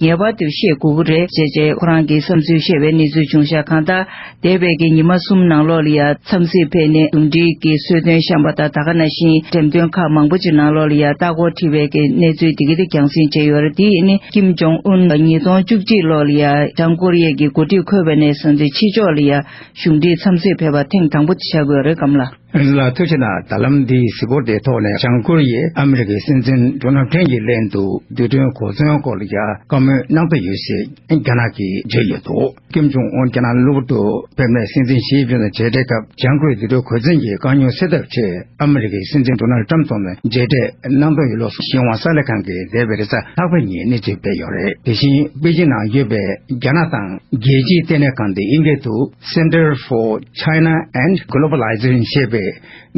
ངེས་པར་དུ་ཤེས་དགོས་ཀྱི་རེད་བྱས་བྱས་ཁོ་རང་གི་བསམ་ཚུལ་བཤད་པའི་གནས་ཚུལ་བྱུང་ཤག་གང་དང་འདས་པའི་གི་ཉི་མ་གསུམ་ནང་ལོགས་ལ་ཡ་མཚམས་སིལ་ཕེ་ནས་འདུམ་སྒྲིག་གི་གསོལ་སྟོན་བཤམས་པ་དང་ད་ག་ན་བཞིན་འགྲེམས་སྟོན་ཁག་མང་པོ་ཅིག་ནང་ལོགས་ལ་ཡ་ལྟ་སྐོར་ཁྲིད་པའི་གི་གནས་ཚུལ་དེ་གི་དེ་རྒྱང་སྲིང་བྱས་ཡོད་རེད་དེ་ནི་ཀིམ་ཇོང་ཨུན་ལ་ཉིས་སྟོང་བཅུ་གཅིག་ལོགས་ལ་ཡ་བྱང་ཀོ་རི་ཡའི་གི་འགོ་ཁྲིད་འཁོད་པ་ནས་བཟུང་སྟེ་ཕྱི་ཕྱོགས་ལ་ཡ་གཞུང་འབྲེལ་མཚམས་སིལ་ཕེ་བ་ཐེངས་དང་པོ་དེ་བྱ་དགོས་རེད་སྐམ་ལ། རིག་ལ་ཐུགས་ཆེ་ན་ད་ལམ་འདིའི་གཟིགས་སྐོར་དེའི་ཐོག་ནས་བྱང་ཀོ་རི་ཡས་ཨ་མི་རི་ཀའི་སྲིད་འཛིན་ཇོ་ནང་ཕྲན་གྱི་ལན་དུ་རྡུལ་ཕྲན་གོ་མཚོན་སྐོར་ལ་རྒྱ་དཀའ་མོལ་གནང་འདོད་ཡོད་ཞེས་རྒྱ་ནག་གིས་བརྗོད་ཡོད་འདུག་ཀེམ་ཇུང་ཨོན་རྒྱ་ནག་གློ་བུར་དུ་ཕེབས་ནས་སྲིད་འཛིན་ཞི་ཅིན་ཕིན་དང་མཇལ་འཕྲད་སྐབས་བྱང་ཀོ་རི་རྡུལ་ཕྲན་གོ་མཚོན་གྱི་དཀའ་རྙོག་སེལ་ཐབས་ཆེད་ཨ་མི་རི་ཀའི་སྲིད་འཛིན་ཏོ་ནལ་ཀྲམ་ཚོ་ནས་མཇལ་འཕྲད་གནང་འདོད་ཡོད་ལུགས་སུ་ཤིན་ཝང་གསར་ལས་ཁང་གིས་འདས་པའི་རེས་གཟའ་ལྷག་པའི་ཉིན་གནས་ཚུལ་སྤེལ་ཡོད་རེད་དེ་བཞིན་པེ་ཅིན་ནང་ཡོད་པའི་རྒྱ་ནག་དང་རྒྱལ་སྤྱིའི་ལྟེ་གནས་ཁང་དེ་ཨིན་སྐད་དུ། Center for China and Globalization། ཞེས་པའི་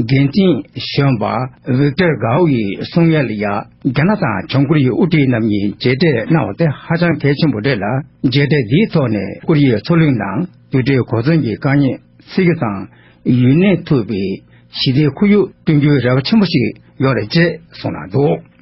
འགན་འཛིན་གཞོན་པ Victor Gao ཡི་གསུང་ཡན་ལ་ཡང་རྒྱ་ནག་དང་བྱང་ཀོ་རི་ཡའི་དབུ་ཁྲིད་རྣམ་གཉིས་མཇལ་འཕྲད་གནང་བ་དེ་ཧ་ཅང་གལ་ཆེན་པོ་རེད་ལ་མཇལ་འཕྲད་འདིའི་ཐོག་ནས་ཀོ་རི་ཡའི་མཚོ་གླིང་ནང་དུ་འབྲས་གོ་མཚོན་གྱི་དཀའ་ཉེ་སེལ་རྒྱུ་དང་ཡུན་གནས་ཐུབ་པའི་ཞི་བདེའི་ཁོར་ཡུག་བསྐྲུན་རྒྱུའི་རེ་བ་ཆེན་པོ་ཞིག་ཡོད་རེད་ཅེས་གསུངས་གནང་འདུག།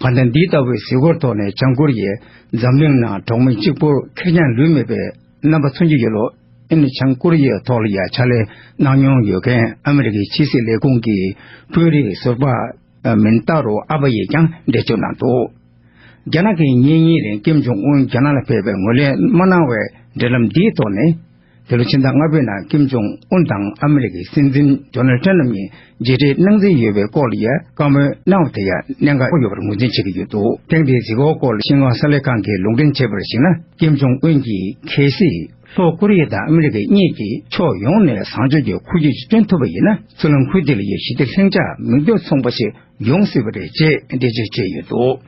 བར་ཐག་འདི་ལྟ་བུའི་གཟིགས་སྐོར་ཐོག་ནས་བྱང་ཀོ་རི་ཡས་འཛམ་གླིང་ནང་གྲོགས་མི་གཅིག་པོར་ཁེར་རྐྱང་ལུས་མེད་པའི་རྣམ་པ་མཚོན་གྱི་ཡོད། ལོ་ཨེ་ནི་བྱང་ཀོ་རི་ཡའི་ཐོག་ལ་ཡང་ཕྱག་ལས་གནང་མྱོང་ཡོད་མཁན་ཨ་མི་རི་ཀའི་ཕྱི་སྲིད་ལས་ཁུངས་ཀྱི་དཔོན་རིགས་ཟུར་པ་མིན་ཏཱ་རོ་ཨ་བྷ་ཡིས་ཀྱང་འགྲེལ་བརྗོད་གནང་འདུག་རྒྱ་ནག་གིས་ཉིན་གཉིས་རིང་ཀེམ་ཇོང་ཨུན་རྒྱ་ནག་ལ་ཕེབས་པའི་ངོས་ལེན་མ་གནང་བའི་འབྲེལ་ལམ་འདིའི་ཐོག་ནས། འདི་ལོ་ཕྱི་ཟླ་ལྔ་པའི་ནང་ཀིམ་ཇོང་ཨུན་དང་ཨ་མི་རི་ཀའི་སྲིད་འཛིན་རྡོ་ནལ་ཏྲན་རྣམ་གཉིས་མཇལ་འཕྲད་གནང་རྩིས་ཡོད་པའི་སྐོར་ལ་ཡང་བཀའ་མོལ་གནང་བ་དེ་ཡང་གནད་འགག་པོ་ཡོད་པར་ངོས་འཛིན་བྱེད་ཀྱི་ཡོད་འདུག་ཐེངས་འདིའི་གཟིགས་སྐོར་སྐོར་ལ་ཤིན་ཧྭ་གསར་ལས་ཁང་གིས་ལུང་འདྲེན་བྱས་པར་གཞིགས་ན་ཀིམ་ཇོང་ཨུན་གྱིས་གལ་སྲིད་ལྷོ་ཀོ་རི་ཡ་དང་ཨ་མི་རི་ཀ་གཉིས་ཀྱིས་ཕྱོགས་ཡོངས་ནས་བཟང་སྤྱོད་ཀྱི་འཁོར་རྒྱུག་ཅིག་སྟོན་ཐུབ་པ་ཡིན་ན་ཚུར་ལམ་ཁུལ་དེ་ལ་ཡང་ཞི་བདེ་ལྷིང་འཇགས་མིག་ལྡོག་མཚུངས་པ་ཞིག་ཡོང་སྲིད་པ་རེད་ཅེས་འགྲེལ་བརྗོད་བྱས་ཡོད་འདུག།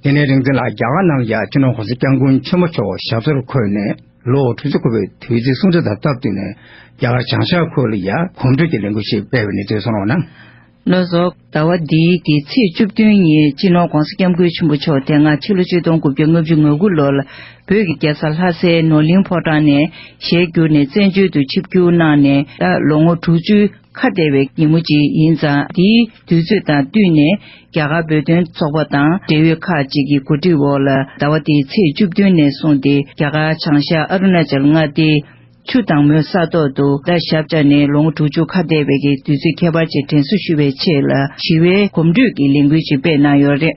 དེ་ནས་རིག་འཛིན་ལ་རྒྱ་གར་ནང་ཡ་ཁྱི་ནང་གོང་ས་སྐྱབས་མགོན་ཆེན་མོ་མཆོག་ཞབས་སོར་འཁོད་ནས་ལོ་དྲུག་ཅུ་འཁོར་བའི་དུས་ཚིགས་གསུང་འཕྲིན་དང་སྟབས་བསྟུན་ནས་རྒྱ་གར་བྱང་ཤར་ཁུལ་ལ་ཡ་གོམ་བགྲོད་ཀྱི་ལས་འགུལ་ཞིག་སྤེལ་བའི་གནས་ཚུལ་གསུང་རོགས་གནང། བློ་སོགས། ཟླ་བ་འདིའི་གི་ཚེས་བཅུ་བདུན་ཉིན་སྤྱི་ནོར་གོང་ས་སྐྱབས་མགོན་ཆེན་པོ་མཆོག་དེ་སྔ་ཕྱི་ལོ་ཆིག་སྟོང་དགུ་བརྒྱ་ལྔ་བཅུ་ང་དགུ་ལོར་ལ་བོད་ཀྱི་རྒྱལ་ས་ལྷ་སའི་ནོར་གླིང་ཕོ་བྲང་ནས་ཞལ་བསྒྱུར་ནས་བཙན་བྱོལ་དུ་ཆིབས་བསྒྱུར་གནང་ནས་ད་ལོ་ངོ་དྲུག་ཅུའི་ཁ་བདེ་བའི་སྒྱིག་མོ་ཅིག་ཡིན་ཙང་འདིའི་དུས་ཚོད་དང་བསྟུན་ནས་རྒྱ་གར་བོད་དོན་ཚོགས་པ་དང་འབྲེལ་ཡོད་ཁག་ཅིག་གི་གོ་སྒྲིག་འོག་ལ་ཟླ་བ་འདིའི་ཚེས་བཅུ་བདུན་ནས་བཟུང་སྟེ་རྒྱ་གར་བྱང་ཤར་ཨ་རུ་ན་ཅལ་མངའ་སྡེའི་ཆུ་དྭངས་མོའི་ས་ཐོག་ཏུ་ཟླ་ཞབས་བཅར་ནས་ལོ་ངོ་དྲུག་ཅུ་ཁ་བདེ་བའི་གི་དུས་ཚོད་ཁྱད་པར་ཅན་དྲན་གསོ་ཞུ་བའི་ཆེད་ལ་ཞི་བའི་གོམ་བགྲོད་ཀྱི་ལས་འགུལ་ཅིག་སྤེལ་གནང་ཡོད་རེད།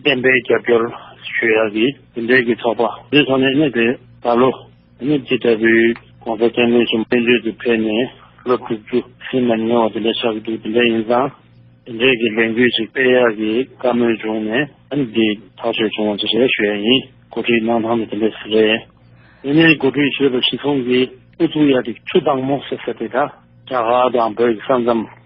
བདེན་པའི་རྒྱབ་སྐྱོར་ཞུ་ཡག་གི་དེ་འབྲེལ་གྱི་ཚོགས་པ་འདིའི་ཐོག་ནས་གནས་དེ་ད་ལོ་ནི་ཇི་ལྟ་བུའི་གོང་ས་བཙན་པོའི་གཞུང་བཙན་བྱོལ་དུ་ཕེབས་ནས་ལོ་དྲུག་ཅུ་ཟིན་མ་མྱོང་བ་དེ་འདྲ་ཆགས་ཀྱི་འདུག་དེ་འདྲ་ཡིན་ཙང་དེ་འབྲེལ་གྱི་ལས་འགུལ་ཞིག་སྤེལ་ཡག་གི་བཀའ་མོལ་བྱུང་ནས་ཨང་ཀི་ཐག་ཆོད་བྱུང་བ་དེ་རེད་ཞུ་ཡག་ཡིན་འགོ་ཁྲིད་གནང་སྟངས་དེ་དེ་འདྲས་ཟེར་རེད་དེ་ནས་འགོ་ཁྲིད་ཞེས་པ་ཞིག་ཚོང་གི་ཨུ་ཚུགས་ཡག་དེ་ཆུ་དྭངས་མོ་ཟེར་ས་དེ་དག་རྒྱ་གར་དང་བོད་ཀྱི་ས་མཚམས།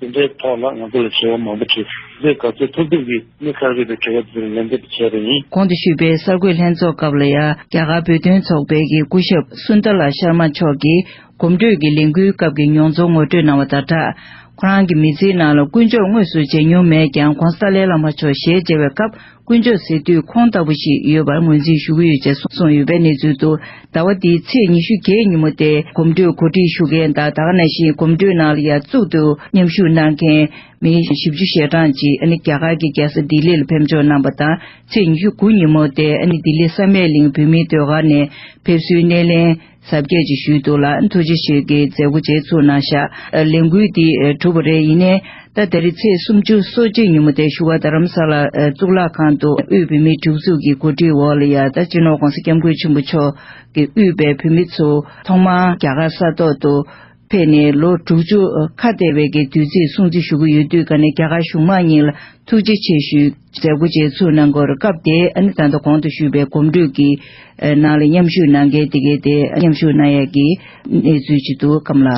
དེ་འདྲའི་ཐོག་ལ་ང་ཚོ་ལ་བྱ་བ་མང་པོ་བྱེད་རྒྱུ་ག་ཚོད་ཐུབ་ཐུབ་ཀྱིས་གནད་ཁག་རིག་པའི་དྲི་བ་འདིར་ལན་འདེབས་བྱས་པ་ཡིན། གོང་དུ་ཞུས་པའི་གསར་འགོད་ལྷན་ཚོགས་སྐབས་ལ་ཡང་རྒྱ་གར་བོད་དོན་ཚོགས་པའི་གི་སྐུ་ཞབས Sunderlal Sharma མཆོག་གིས་གོམ་བགྲོད་ཀྱི་ལས་འགུལ་སྐབས་ཀྱི་མྱོང་ཚོར་ངོ་སྤྲོད་གནང་བ་དང་སྦྲགས། ཁོ་རང་གི་མི་ཚེའི་ནང་ལ་དཀོན་མཆོག་དངོས་སུ་མཇལ་མྱོང་མེད་ཀྱང ྋགོང་ས་ཏཱ་ལའི་བླ་མ་མཆོག་ཞལ་མཇལ་བའི་སྐབས་དཀོན་མཆོག་ཟེར་དུས་ཁོང་ལྟ་བུ་ཞིག་ཡོད་པར་ངོས་འཛིན་ཞུ་གི་ཡོད་ཅེས་གསུངས་ཡོད་པའི་གནས་ཚུལ་དུ་ཟླ་བ་འདིའི་ཚེས་ཉི་ཤུ་བརྒྱད་ཉིན་མོ་སྟེ་གོམ་བགྲོད་གོ་སྒྲིག་ཞུ་མཁན་དང་དག་ན་ཞིང་གོམ་བགྲོད་ནང་ལ་ཡར་བཙུགས་འདུག་མཉམ་ཞུགས་གནང་མཁན་མི་བཞི་བཅུ་ཞེ་གྲངས་ཅིག་རྒྱ་གར་གྱི་རྒྱལ་ས་ལྡི་ལི་ལ་ཕེབས་འབྱོར་གནང་པ་དང་ཚེས་ཉི་ཤུ་དགུ་ཉིན་མོ་སྟེ་ལྡི་ལི་ས་མེད་གླིང་བོད་མིའི་ཟློས་གར་ནས་ཕེབས་བསུའི་སྣེ་ལེན། གཟབ་རྒྱས་ཀྱིས་ཞུས་འདུག་ལ་ཐུགས་རྗེ་ཆེ་གི་མཛད་སྒོ་རྗེས་ཚུགས་གནང་ཤག་ལས་འགུལ་འདི་གྲུབ་པ་རེད་ཡིན་ནའི་ད་ད་རི་ཚེས་སུམ་ཅུ་སོ་གཅིག་ཉིན་མོ་དེ་ཞུ་བ་རྡ་རམ་ས་ལ་གཙུག་ལག་ཁང་དུ་དབུས་བོད་མིའི་སྒྲིག་འཛུགས་ཀྱི་གོ་སྒྲིག་འོག་ལ་ཡ་ད་སྤྱི་ནོར ྋགོང་ས ྋསྐྱབས་མགོན་ཆེན་པོ་མཆོག་གིས་དབུས་པའི་བོད་མི་ཚོ་ཐོག་མར་རྒྱ་གར་ས་ཐོག་ཏུ་ཕེབས་ནས་ལོ་དྲུག་ཅུ་ཁ་འདས་པའི་གི་དུས་ཚིགས་སྲུང་བརྩི་ཞུ་གི་ཡོད་དུས་ཀ་ནས་རྒྱ་གར་གཞུང་མང་གཉིས་ལ་ཐུགས་རྗེ་ཆེ་ཞུའི་མཛད་སྒོ་བཅས་ཚུགས་གནང་སྐོར་སྐབས་དེའི་ཨ་ནེ་ད་ད་གོང་དུ་ཞུས་པའི་གོམ་བགྲོད་ཀྱི་ནང་ལ་མཉམ་ཞུགས་གནང་མཁན་དེ་གའི་དེའི་མཉམ་ཞུགས་གནང་ཡས་ཀྱི་གནས་ཚུལ་ཇི་འདུག་གམ་ལ།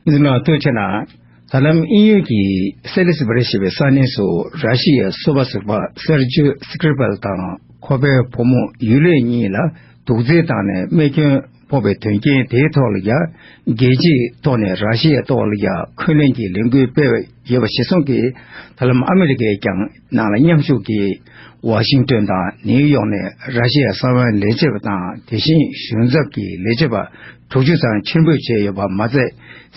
འདི་ནང་བལྟོས་ཆེ་ན་ད་ལམ་ཨིན་ཡུལ་གྱི་སེ་ལིས་བྷེ་རི་ཞེས་པའི་ས་གནས་སུ་ར་ཤི་ཡའི་གསོ་བ་ཟུར་པ་སེར་ཇོ་སི་ཀིར་པལ་དང་ཁོ་པའི་བུ་མོ་ཡུ་ལེ་གཉིས་ལ་དུག་རྫས་བཏང་ནས་རྨས་སྐྱོན་ཕོག་པའི་དོན་རྐྱེན་དེའི་ཐོག་ལ་ཡང་རྒྱལ་སྤྱིའི་ཐོག་ནས་ར་ཤི་ཡའི་ཐོག་ལ་ཡང་འཁོན་ལན་གྱི་ལས་འགུལ་སྤེལ་བ་ཡོད་པ་ཞིག་སོང་གི་ད་ལམ་ཨ་མི་རི་ཀས་ཀྱང་ནང་ལ་མཉམ་ཞུགས་ཀྱིས་ཝཱ་ཤིང་ཏོན་དང་ནེའུ་ཡོག་ནས་ར་ཤི་ཡ་གསང་བའི་ལས་བྱེད་པ་དང་དེ་བཞིན་གཞུང་ཚབ་ཀྱི་ལས་བྱེད་པ་དྲུག་ཅུ་ཙམ་ཕྱིར་འབུད་བྱས་ཡོད་པ་མ་ཟད་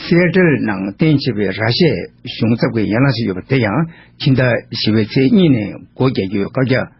སི་ཨེ་ཏེལ་ནང་བསྟན་བྱེད་པའི་ར་ཤི་ཡའི་གཞུང་ཚབ་ཀྱི་ཡན་ལག་ཞིག་ཡོད་པ་དེ་ཡང་ཕྱི་ཟླ་བཞི་བའི་ཚེས་གཉིས་ནས་སྒོ་རྒྱག་རྒྱུའི་བཀའ་རྒྱ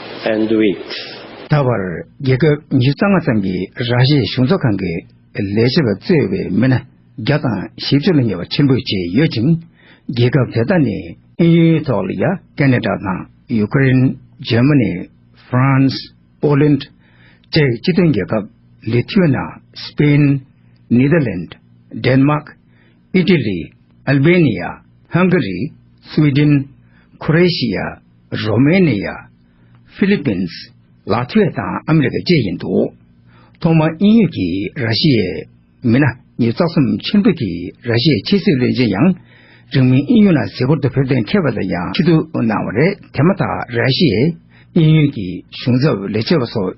and with། ད་བར་རྒྱལ་ཁབ་ཉི་ཤུ་རྩ་ལྔ་ཙམ་གྱི་ར་ཤའི་གཞུང་ཚབ་ཁང་གི་ལས་བྱེད་པ་གཙོས་བའི་མི་སྣ་བརྒྱ་དང་བཞི་བཅུ་ལ་ཉེ་བ་ཕྱིར་འབུད་བྱས་ཡོད་ཅིང། རྒྱལ་ཁབ་དེ་དག་ནི་ཨིན་ཡུལ་ཏོག་ལི་ཡ་ཀེ་ནེ་ཏྲ་དང་ཡུ་ཀེ་རེན་ཇེར་མ་ནེ་ཧྥ་རན་སི་པོ་ལན་ཏྲ་བཅས་ཀྱི་སྤྱི་མཐུན་རྒྱལ་ཁབ་ལི་ཐི་ཝེ་ན་སི་པེན་ནེ་ལྡ་ལན་ཏྲ་དན་མ་ཀི། ཨི་ཏི་ལི། ཨལ་བྷེ་ནི་ཡ། ཧང་གྷ་རི། སི་ཝི་ཏིན། ཁོ་རེ་ཤི་ཡ། རོ་མེ་ནི་ཡ། ཧྥི་ལི་པིན། ལཱ་ཐི་ཝེ་དང་ཨ་མེ་རི་ཀ་བཅས་ཡིན་འདུག་ཐོག་མར་དབྱིན་ཡུལ་གྱི་ར་ཤི་ཡའི་མི་སྣ་གཉིས་རྩ་གསུམ་ཆེན་པོ་གྱི་ར་ཤི་ཡའི་ཕྱི་སྲིད་བློན་ཆེན་ཡང་རིང་མིན་དབྱིན་ཡུལ་ནང་གཟིགས་སྐོར་དུ་ཕེབས་གཏན་འཁེལ་བ་དང་ཡང་ཆེད་དུ་གནང་བ་རེད་དེ་མ་ཐག་ར་ཤི་ཡའི་དབྱིན་ཡུལ་གྱི་གཞུང་ཚབ་ལས་བྱེད་པ་སོགས།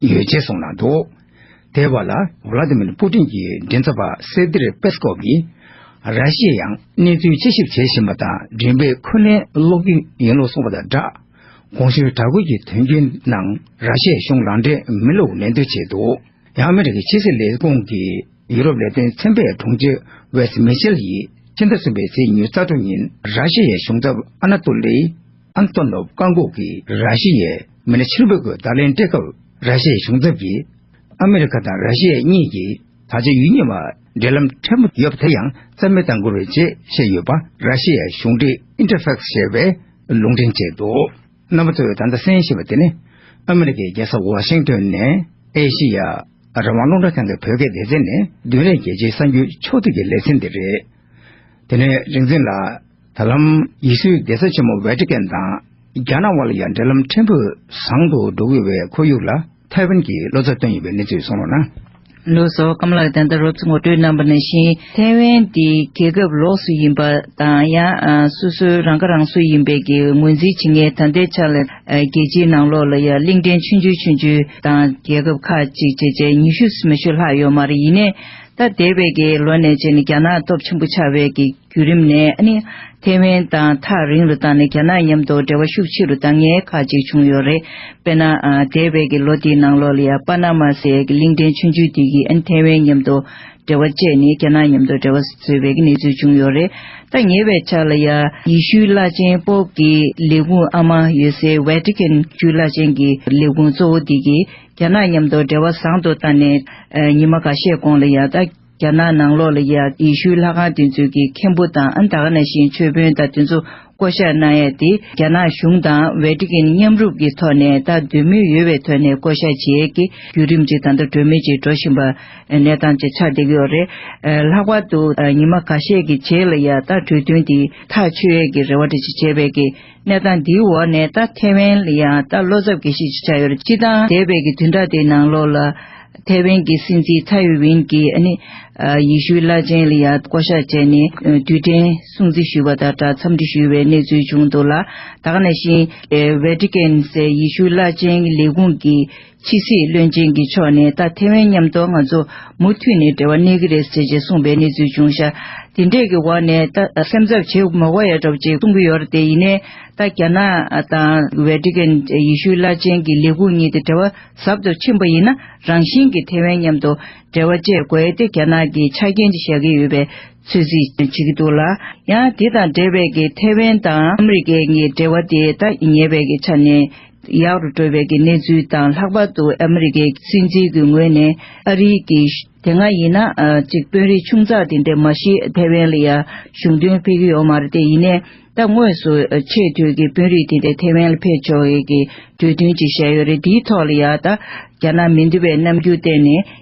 ཡོད་ཅེས་གསུངས་གནང་འདུག་དེ་བར་ལ་བྷ་ལ་དི་མིར་པུ་ཏིན་གྱི་མགྲིན་ཚབ་པ་སེར་གཏེར་པེ་སི་ཀོབ་ཀྱིས་ར་ཤི་ཡས་ཡང་གནས་ཚུལ་དཔྱད་ཞིབ་བྱེད་བཞིན་པ་དང་མགྲིན་པའི་འཁོན་ལན་སློག་རྒྱུ་ཡིན་ལུགས་གསུངས་པ་དང་སྦྲགས། གོང་ཞུས་གྲགས་འགུལ་གྱི་དོན་རྐྱེན་ནང་ར་ཤི་ཡའི་གཞུང་རང་འགྲེལ་མི་ལུགས་ལན་ལྡོན་བྱས་འདུག་ཡང་མི་རིགས་ཀྱི་ཕྱི་སྲིད་ལས་ཁུངས་ཀྱི་ཡུ་རོབ་ལས་དོན་ཚན་པའི་དྲུང་ཆེ་ཝེ་སི་མེ་ཤེལ་ཡིས་ཕྱི་ཟླ་གསུམ་པའི་ཚེས་ཉེར་རྩ་དྲུག་ཉིན་ར་ཤི་ཡའི་གཞུང་ཚབ་ཨ་ན་ཏུ་ལི་ཨན་ཏོ་ནོབ་བཀག་འགོག་གིས་ར་ཤི་ཡའི་མི་སྣ་ཕྱིར་འབུད་སྒོས་བརྡ་ལན་སྤྲད་སྐབས་ར་ཤི་ཡའི་གཞུང་ཚབ་ཀྱིས། ཨ་མི་རི་ཁ་དང་ར་ཤི་ཡ་གཉིས་ཀྱིས་ད་ཆ་ཡུལ་གཉིས་བར་འབྲེལ་ལམ་ཕྲ་མོ་ཡོད་པ་དེ་ཡང་རྩ་མེད་བཏང་དགོས་རེད་ཅེས་བཤད་ཡོད་པ་ར་ཤི་ཡའི་གཞུང་འབྲེལ Interfax ཞེས་པས་ལུང་འདྲེན་བྱས་འདུག་རྣམ་པ་ཚོས་ད་ལྟ་གསན་བཞིན་པ་དེ་ནི། ཨ་མི་རི་ཀའི་རྒྱལ་ས་ཝ་ཤིང་ཏོན་ནས་ཨེ་ཤི་ཡ་རང་དབང་སློབ་གྲྭ་ཚང་གི་བོད་སྐད་སྡེ་ཚན་ནས་བདུན་རེར་རྒྱལ་སྤྱིའི་གསར་འགྱུར་ཕྱོགས་བསྡུས་ཀྱི་ལེ་ཚན་དེ་རེད། དེ་ནས་རིག་འཛིན་ལགས། ད་ལམ་ཡེ་ཤུའི་རྒྱལ་ས་ཆེན་མོ་ཝེ་ཏི་ཀན་དང་རྒྱ་ནག་དབར་ལ་ཡང་འབྲེལ་ལམ་ཕྲན་བུས་བཟང་དུ་འགྲོ་གི་བའི་ཁོར་ཡུག་ལ་ཐའེ་ཝན་གྱིས་བློ་རྩ་བཏོན་ཡོད་པའི་གནས་ཚུལ་གསུང་རོགས་གནང། ལོ་སོ་སྐམ་ལགས་ད་ལྟ་རོབ་ཙི་ངོ་སྤྲོད་གནང་བ་ནང་བཞིན་ཐའེ་ཝན་འདི་རྒྱལ་ཁབ་ལོགས་སུ་ཡིན་པ་དང་ཡང་སོ་སོའི་རང་ཁ་རང་གསོ་ཡིན་པའི་གི་ངོས་འཛིན་བྱེད་ངེས་ད་ལྟའི་ཆ་ལ་རྒྱལ་སྤྱིའི་ནང་ལོགས་ལ་ཡང་གླིང་ཕྲན་ཆུང་ཆུང་ཆུང་ཆུང་དང་རྒྱལ་ཁབ་ཁག་གཅིག་བྱས་བྱས་ཉི་ཤུ་སུམ་ཅུ་ལྷག་ཡོད་མ་རེད་ཡིན་ནས་ད་འདས་པའི་གི་ལོ་ནས་བྱས་ནས་རྒྱ་ནག་སྟོབས་ཆེན་པོ་ཆགས་པའི་གི། བརྒྱུད་རིམ་ནས་ནི། ཐའེ་ཝན་དང་ཐག་རིང་རུ་བཏང་ནས་རྒྱ་ནག་མཉམ་དུ་འབྲེལ་བ་ཤུགས་ཆེ་རུ་བཏང་ངེས་ཁག་ཅིག་བྱུང་ཡོད་རེད། དཔེར་ན། འདས་བའི་གི་ལོ་དེའི་ནང་ལོ་ལི་ཡ་པ་ན་མ་སའི་གི་གླིང་ཕྲན་ཆུང་ཆུང་དེ་གིས་ནི་ཐའེ་ཝན་མཉམ་དུ་འབྲེལ་བ་བཅད་ནས་རྒྱ་ནག་མཉམ་དུ་འབྲེལ་བ་བཟོས་པའི་གི་གནས་ཚུལ་བྱུང་ཡོད་རེད། ད་ཉེ་བའི་ཆར་ལ་ཡ། ཡི་ཤུའི་བླ་ཆེན་པོབ་ཀྱི་ལས་ཁུངས་ཨ་མ་ཡོད་སའི Vatican ཆུའི་བླ་ཆེན་གྱི་ལས་ཁུངས་གཙོ་བོ་དེ་གིས་རྒྱ་ནག་མཉམ་དུ་འབྲེལ་བ་བཟང་དུ་བཏང་ནས། ཉི་མ་འགའ་ཤས་གོང་ལ་ཡ། རྒྱ་ནག་ནང་ལོགས་ལ་ཡང་ཡེ་ཤུའི་ལྷ་ཁང་དེ་ཚོའི་གི་མཁན་པོ་དང་ཨ་མདའ་ཁ་ན་ཤིང་མཆོད་དཔོན་དང་དེ་ཚོ་བསྐོ་བཞག་གནང་ཡ་དེ་རྒྱ་ནག་གཞུང་དང་ཝེ་ཏི་ཀན་མཉམ་རུབ་ཀྱི་ཐོག་ནས་ད་འདོད་མོས་ཡོད་བའི་ཐོག་ནས་བསྐོ་བཞག་བྱེད་ཡས་ཀྱི་བརྒྱུད་རིམ་ཅིག་ད་ལྟ་གྲོས་མོས་ཅིག་འགྲོ་བཞིན་པ་གནས་སྟངས་ཅིག་ཆགས་བསྡད་ཀྱི་ཡོད་རེད། ལྷག་པར་དུ་ཉི་མ་ག་ཤས་ཀྱི་རྗེས་ལ་ཡང་ད་གྲོས་མཐུན་དེ་ཐག་ཆོད་ཡས་ཀྱི་རེ་བ་དེ་ཅིག་བྱས་བས་ཀྱི། གནས་སྟངས་འདིའི་འོག་ནས་ད་ཐེ་ཝན་ལ་ཡང་ད་བློ་འཚབ་གྱིས་ཤིག་ཅིག་བྱ་ཡོད་རེད་སྤྱི་དང་འདས་པའི་གི་དུས་འདྲ་དེའི་ནང་ལོགས་ལ། ཐེ་ཝན་གྱི་སྲིད་འཛིན་ཚ་ཡུས་ཝིན་གྱིས་ཨ་ནི། ཡི་ཤུའི་བླ་ཆེན་ལ་ཡང་བསྐོ་བཞག་བྱས་ནས་དུས་དྲན་སྲུང་བརྩི་ཞུས་པ་དང་སྦྲགས་འཚམས་འདྲི་ཞུས་པའི་གནས་ཚུལ་བྱུང་འདུག་ལ། ད་ག་ནས་བཞིན། Vatican། ཡི་ཤུའི་བླ་ཆེན་གྱི་ལས་ཁུངས་ཀྱིས་ཕྱི་སྲིད་བློན་ཆེན་གྱི་ཕྱོགས་ནས་ད་ཐེ་ཝན་མཉམ་དུ་ང་ཚོ་མུ་མཐུད་ནས་འབྲེལ་བ་གནས་ཀྱི་རེད་ཟེར་ཅེས་གསུངས་པའི་གནས་ཚུལ་བྱུང་ཤག་དེ་འདྲས་ཀྱི་འོག་ནས་ད་སེམས་འཚབ་བྱེད་དགོས་མ་བ་ཡ་གྲོགས་ཅེས་གསུངས་ཀྱི་ཡོད་རེད་དེ་ཡིན་ནའི་ད་རྒྱ་ནག་དང་ཝེ་ཏི་ཀན་ཡེ་ཤུའི་བླ་ཆེན་གྱི་ལས་ཁུངས་གཉིས་དེ་འབྲེལ་བ་ཟབ་ཏུ་ཕྱིན་པ་ཡིན་ན་རང་བཞིན་གྱིས་ཐེ་ཝན་མཉམ་དུ་འབྲེལ་བ་བཅད་དགོས་ཡས་དེ་རྒྱ་ནག་གིས་ཆ་རྐྱེན་གཅིག་བཞག་གི་ཡོད་པའི་ཚོད་རྩིས་བྱེད་ཀྱི་འདུག་ལ་ཡང་དེ་དང་འབྲེལ་བས་ཀྱི་ཐེ་ཝན་དང་ཨ་མི་རི་ཀའི་གཉིས་འབྲེལ་བ་དེ་ད་ཉེ་བའི་ཆ་ནས་ཡག་རུ་འགྲོ་བའི་གི་གནས་ཚུལ་དང་ལྷག་པར་དུ་ཨ་མི་རི་ཀའི་སྲིད་འཛིན་གྱི་ངོས་ནས་ཨ་རིའི་གི་དེ་སྔ་ཡིན་ན་ཅིག་དཔོན་རིགས་ཆུང་ཙག་དེ་འདྲས་མ་གཞི་ཐའེ་ཝན་ལ་ཡ་གཞུང་དོན་ཕེབས་ཀྱི་ཡོད་མ་རེད་དེ་ཡིན་ནས་ད་དངོས་སུ་ཆེས་མཐོའི་གི་དཔོན་རིགས་དེ་འདྲས་ཐའེ་ཝན་ལ་ཕེབས་ཆོག་གི་གི་གྲོས་མཐུན་ཅིག་བཞག་ཡོད་རེད་དེའི་ཐོག་ལ་ཡ་ད་རྒྱ་ནག་མི་འདི་བས་རྣམ་འགྱུར་བསྟན་ནས་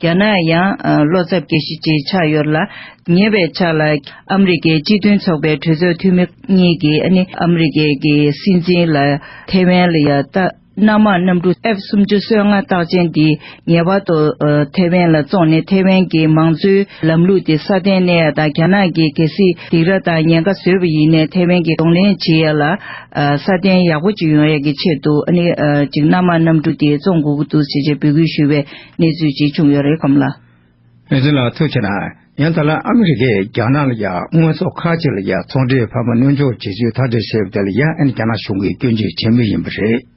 རྒྱ་ནག་ཡང་བློ་འཚབ་རྒྱག་གཞི་ཅིག་ཆགས་ཡོད་ལ། ཉེ་བའི་ཆ་ལ་ཨ་མི་རི་ཀའི་སྤྱི་མཐུན་ཚོགས་པའི་གྲོས་ཚོགས་འཐུས་མི་གཉིས་ཀྱིས་ནི་ཨ་མི་རི་ཀའི་ཀྱི་སྲིད་འཛིན་ལ་ཐེ་ཝན་ལ་ཡ་ཏཱ་སྣ་མང་གནམ་གྲུ F སུམ་ཅུ་སོ་ལྔ་རྟགས་ཅན་འདི་ངེས་པར་དུ་ཐེ་ཝན་ལ་བཙོངས་ནས་ཐེ་ཝན་གྱི་མང་གཙོའི་ལམ་ལུགས་དེ་སྲ་བརྟན་གནས་ཡ་དང་རྒྱ་ནག་གི་གལ་སྲིད་སྡིགས་ར་དང་ཉེན་ཁ་བཟོས་པ་ཡིན་ནས་ཐེ་ཝན་གྱི་གདོང་ལེན་བྱེད་ཡ་ལ་སྲ་བརྟན་ཡག་པོ་ཅིག་ཡོང་ཡ་གི་ཆེད་དུ་ནི་ཅིག་སྣ་མང་གནམ་གྲུ་དེ་བཙོངས་དགོས་ཀྱི་འདུག་ཅེས་ཅེས་འབོད་སྐུལ་ཞུས་པའི་གནས་ཚུལ་ཅི་བྱུང་ཡོད་རེད་གམ་ལགས། ངེད་ཚོ་ལ་ཐུག་ཆེ་ན་ཡང་ད་ལ་ཨ་མི་རི་ཀས་རྒྱ་ནག་ལ་ཡང་དངོས་ཟོག་ཁག་ཅིག་ལ་ཡང་ཚོང་འབྲེལ་ཕ་མ་གནོན་འཇོག་བྱེད་ཚུལ་ཐག་བྲེལ་བྱས་པ་དེ་ལ་ཡང་ཨན་རྒྱ་ནག་གཞུང་གིས་སྐྱོན་བརྗོད་བྱེད་མུས་ཡིན་པ་རེད།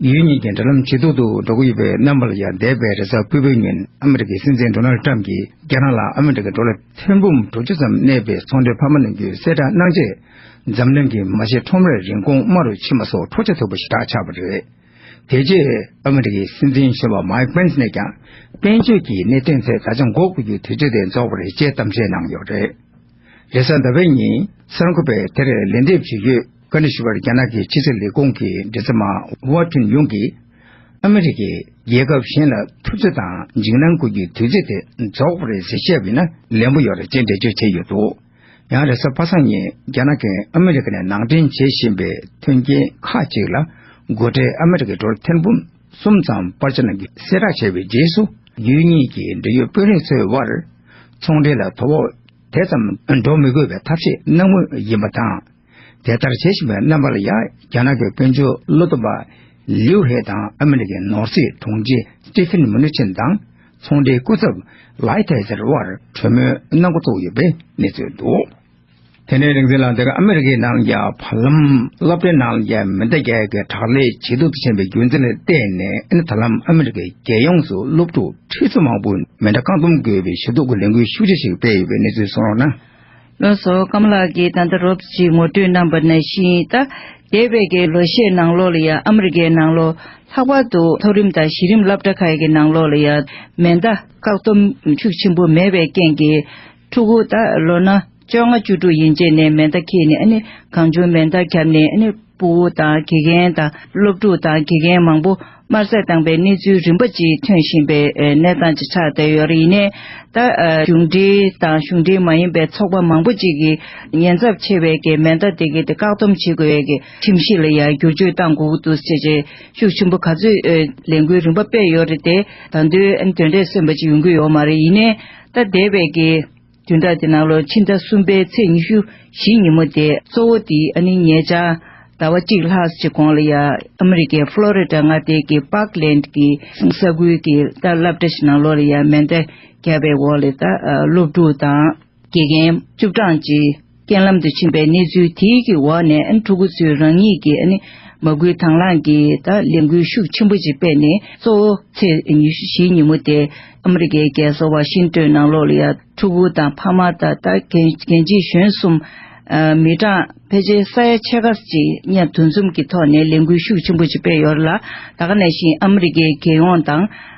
ཡུལ་གཉིས་ཀྱི་འབྲེལ་ལམ་ཇེ་སྡུག་ཏུ་འགྲོ་གི་ཡོད་པའི་རྣམ་པ་ལ་ཡང་འདས་པའི་རེས་གཟའ་དགུ་པའི་ཉིན་ཨ་མི་རི་ཀའི་སྲིད་འཛིན Donald Trump གྱིས་རྒྱ་ནག་ལ་ཨ་མི་རི་ཀའི་འགྲོ་ལ་ཐེར་འབུམ་དྲུག་ཅུ་ཙམ་གནས་པའི་ཚོང་འབྲེལ་ཕ་མ་གནོན་རྒྱུའི་གསལ་བསྒྲགས་གནང་རྗེས་འཛམ་གླིང་གི་མ་ཕྱི་ཁྲོམ་རའི་རིན་གོང་དམའ་རུ་ཕྱིན་པ་སོགས་འཕྲོག་བྱ་ཐུབ་པ་ཞིག་གྲགས་ཆགས་པ་རེད། དེ་རྗེས་ཨ་མི་རི་ཀའི་སྲིད་འཛིན་གཞོན་པ Mike Pence ནས་ཀྱང་དཔལ་འབྱོར་གྱི་གནད་དོན་ཐད་ད་ཆ་འགོག་དགོས་རྒྱུ་དེ་ཇི་བདེར་རྫོགས་པ་རེད་ཅེས་གཏམ་བཤད་གནང་ཡོད་པ་རེད། རེས་གཟའ་ཟླ་བའི་ཉིན་གསར་འགོད་པས་དེར་ལན་འདེབས་བྱེད་ཡུལ་བཀའ་འདྲི་ཞུས་པར་རྒྱ་ནག་གི་ཕྱི་སྲིད་ལས་ཁུངས་ཀྱི་འབྲེལ་ཟམ་མ Hua Chunying གིས་ཨ་མི་རི་ཀས་རྒྱལ་ཁབ་གཞན་ལ་ཐུབ་ཚོད་དང་འཇིགས་སྣང་སྐུལ་རྒྱུའི་དུས་ཚོད་དེ་རྫོགས་པ་རེད་ཟེར་ཤེས་པ་ཡིན་ན་ལན་པོ་ཡོད་རེད་ཅེས་འགྲེལ་བརྗོད་བྱས་ཡོད་འདུག། ཡང་རེས་གཟའ་པ་སངས་ཉིན་རྒྱ་ནག་གིས་ཨ་མི་རི་ཀ་ནས་ནང་འདྲེན་བྱེད་བཞིན་པའི་མཐུན་རྐྱེན་ཁག་ཅིག་ལ་མགོ་ཁྲིད་ཨ་མི་རི་ཀའི་འགྲོ་ལ་ཐེར་འབུམ་གསུམ་ཙམ་དཔར་ཕྱིར་ནང་གི་གསལ་བསྒྲགས་བྱས་པའི་རྗེས་སུ་རྒྱུད་གཉིས་ཀྱི་འབྲེལ་ཡོད་དཔོན་རིགས་ཚོའི་དབར་ཚོང་འབྲེལ་ལ་དོ་ཕོག་དེ་ཙམ་འགྲོ་མི་དགོས་པའི་ཐབས་ཤེས་གནང་མུས་ཡིན་པ་དང། དེ་ལྟར་བྱེད་བཞིན་པའི་རྣམ་པ་ལ་ཡང་རྒྱ་ནག་གི་དཔོན་ཆུང་བློ་སྟོབས་པ་ལིའུ་ཧེ་དང་ཨ་མི་རི་ཀའི་ནོར་སྲིད་དྲུང་ཆེ་ཏི་ཕིན་མུ་ནི་ཆིན་དང་ཚོང་འབྲེལ་སྐུ་ཚབ་ལའི་ཐེ་ཙེར་དབར་གྲོས་མོལ་གནང་མགོ་བཙུགས་ཡོད་པའི་གནས་ཚུལ་འདུག། དེ་ནས་རིག་འཛིན་ལགས་དེ་གར་ཨ་མི་རི་ཀའི་ནང་རྒྱ་བྷ་ལམ་སློབ་གྲྭའི་ནང་རྒྱ་མི་དང་རྒྱ་གར་གྱི་དྲག་ལས་ཇེ་སྡུག་ཏུ་ཕྱིན་པའི་རྒྱུ་མཚན་ལ་བལྟས་ནས་ད་ལམ་ཨ་མི་རི་ཀའི་རྒྱལ་ཡོངས་སུ་སློབ་ཕྲུག་ཁྲི་ཚོ་མང་པོས་མེ་མདའ་རྐང་འདོམས་དགོས་པའི་ཞུ་གཏུག་གི་ལས་འགུལ་ཤུགས་ཆེ་ཞིག་སྤེལ་ཡོད་པའི་གནས་ཚུལ་གསུངས་རོགས་གནང། ལོ་སོ་སྐམ་ལགས་ཀྱིས་ད་ལྟ་རོབ་ཅིག་ངོ་སྤྲོད་གནང་པ་ན་ཤིང་རྟ་རྒྱས་པའི་དགེ་ལོ་ཤས་ནང་ལོགས་ལ་ཡང་ཨ་མི་རི་ཀའི་ནང་ལོགས་ལྷག་པར་དུ་མཐོ་རིམ་དང་གཞི་རིམ་སླབ་གྲྭ་ཁག་གི་ནང་ལོགས་ལ་ཡང་མེ་མདའ་བཀག་སྡོམ་ཤུགས་ཆེན་པོ་མེད་པའི་རྐྱེན་གྱིས་ཕྲུ་གུ་ད་ལོ་ན་བཅོ་ལྔ་བཅུ་དྲུག་ཡིན་རྗེས་ནས་མེ་མདའ་ཁྱེར་ནས་གང་བྱུང་མེ་མདའ་བརྒྱབ་ནས་པུའུ་དང་དགེ་རྒན་དང་སློབ་ཕྲུག་དང་དགེ་རྒན་མང་པོ་དམར་བསད་བཏང་པའི་གནས་ཚུལ་རིམ་པ་གཅིག་ཐོན་བཞིན་པའི་གནས་སྟངས་ཀྱི་ཆ་དེ་ཡོད་རེད་ཡིན་ནས་ད་གཞུང་འབྲེལ་དང་གཞུང་འབྲེལ་མ་ཡིན་པའི་ཚོགས་པ་མང་པོ་གཅིག་གིས་ཉེན་ཚབས་ཆེ་བའི་གི་མེ་མདའ་དེ་གི་དེ་བཀག་སྡོམ་བྱེད་དགོས་གི་ཁྲིམས་གཞི་ལ་ཡང་བསྒྱུར་བཅོས་བཏང་དགོས་ཀི་འདུག་ཅེས་ཅེས་ཤུགས་ཆེན་པོ་ག་ཚོད་ལས་འགུལ་རིམ་པ་སྤེལ་ཡོད་རེད་དེ་ད་དུས་དོན་འབྲས་སོན་པ་ཅིག་ཡོང་གི་ཡོད་མ་རེད་ཡིན་ནས་ད་འདས་པའི་གི། བདུན་ཕྲག་དེ་ནང་ལོ་ཕྱི་ཟླ་གསུམ་པའི་ཚེས་ཉི་ཤུ་བཞི་ཉིན་མོ་དེ་གཙོ་བོ་དེ་ཨ་ནི་ཉེ་ཆར་ཟླ་བ་གཅིག་ལྷག་གཅིག་གོང་ལ་ཡང་ཨ་མི་རི་ཀའི་ཕྷ་ལོ་རི་ཀྲ་མངའ་སྡེ་གི་པག་ལེནད་ཀི་ས་ཁུལ་གི་རྟ་བསླབ་གྲྭ་ཞིག་ནང་ལོ་ལ་ཡང་མེ་མདའ་བརྒྱབ་པའི་འོག་ལས་རྟ་སློབ་ཕྲུག་དང་དགེ་རྒན་བཅུ་གྲངས་ཀྱིས། རྐྱེན་ལམ་དུ་ཕྱིན་པའི་གནས་ཚུལ་དེ་གི་འོག་ནས་ཕྲུ་གུ་ཚོས་རང་ཉིད་ཀྱི་མ་སྐུལ་དང་བླངས་ཀྱིས་ལས་འགུལ་ཤུགས་ཆེན་པོ་ཅིག་སྤེལ་ནས་གཙོ་བོ་ཚེས་ཉི་ཤུ་བཞི་ཉིན་མོ་དེ་ཨ་མི་རི་ཀའི་རྒྱལ་ས་ཝ་ཤིང་ཏོན་ནང་ལོགས་ལ་ཕྲུ་གུ་དང་ཕ་མ་དང་གན་རྒྱའི་གཞོན་གསུམ། མི་གྲངས་ཕལ་ཆེར་ས་ཡ་ཕྱེད་ཀ་ཅིག་གཉིས་འདུ་འཛོམས་ཀྱི་ཐོག་ནས་ལས་འགུལ་ཤུགས་ཆེན་པོ་ཅིག་སྤེལ་ཡོད་ལ་ད་ག་ནས་བཞིན་ཨ་མི་རི་ཀའི་རྒྱལ་ཡོངས་དང།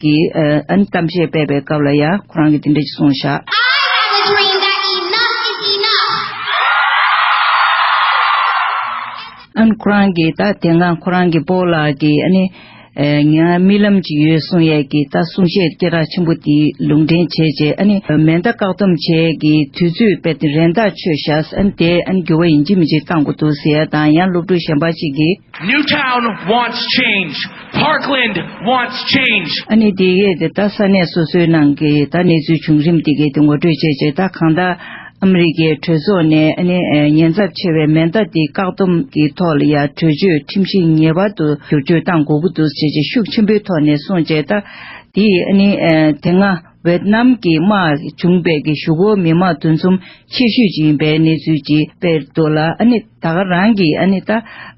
གི་ཨན་གཏམ་བཤད་སྤེལ་པའི་སྐབས་ལ་ཡང་ཁོ་རང་གིས་འདི་འདྲ་ཅིག་གསུངས་བཞག། ཨན་ཁོ་རང་གིས་ད་དེ་སྔ་ཁོ་རང་གི་སྤོ་ལགས་ཀྱིས་ཨ་ནི། ངའི་རྨི་ལམ་ཅིག་ཡོད་གསུངས་ཡས་ཀྱི་ད་གསུང་བཤད་སྐད་གྲགས་ཆེན་པོ་དེ་ལུང་འདྲེན་བྱས་རྗེས་ཨ་ནི་མེ་མདའ་བཀག་སྡོམ་བྱས་ཀྱི་དུས་ཚོད་སྤེལ་ཏེ་རེན་ཐག་ཆོད་བཞག་ཨ་ནི་དེས་ཨ་ནི་འགྱུར་བ་ཡིན་གཅིག་མིན་གཅིག་བཏང་དགོས་འདུག་ཟེར་ཡས་དང་ཡང་སློབ་ཕྲུག་གཞན་པ་ཅིག་གིས། Parkland wants change! ཨ་ནི་འདི་གས་དེ་ལྟ་ས་གནས་སོ་སོའི་ནང་གི་ད་གནས་ཚུལ་བྱུང་རིམ་འདི་གས་དེ་ངོ་སྤྲོད་བྱས་རྗེས་ད་གང་ལྟར་ཨ་མི་རི་ཀའི་གྲོས་ཚོགས་ནས་ཨ་ནི་ཉེན་ཚབས་ཆེ་བའི་མེ་མདའ་འདི་བཀག་སྡོམ་གྱི་ཐོག་ལ་ཡ་གྲོས་ཆོད་ཁྲིམས་གཞི་ངེས་པར་དུ་བསྒྱུར་བཅོས་གཏང་དགོས་ཀྱི་འདུག་ཅེས་ཅེས་ཤུགས་ཆེན་པོའི་ཐོག་ནས་གསུངས་རྗེས་ད་དེ་ཡིས་ཨ་ནི་དེ་སྔ་ཝེད་ནམ་གྱི་དམག་བྱུང་བའི་གི་ཞུ་སྒོར་མི་མང་དུ་འཚོམ་ཤེས་ཞུས་ཀྱི་ཡིན་པའི་གནས་ཚུལ་གྱི་སྤེལ་འདུག་ལ་ཨ་ནི། ད་ག་རང་གིས་ཨ་ནི་ད་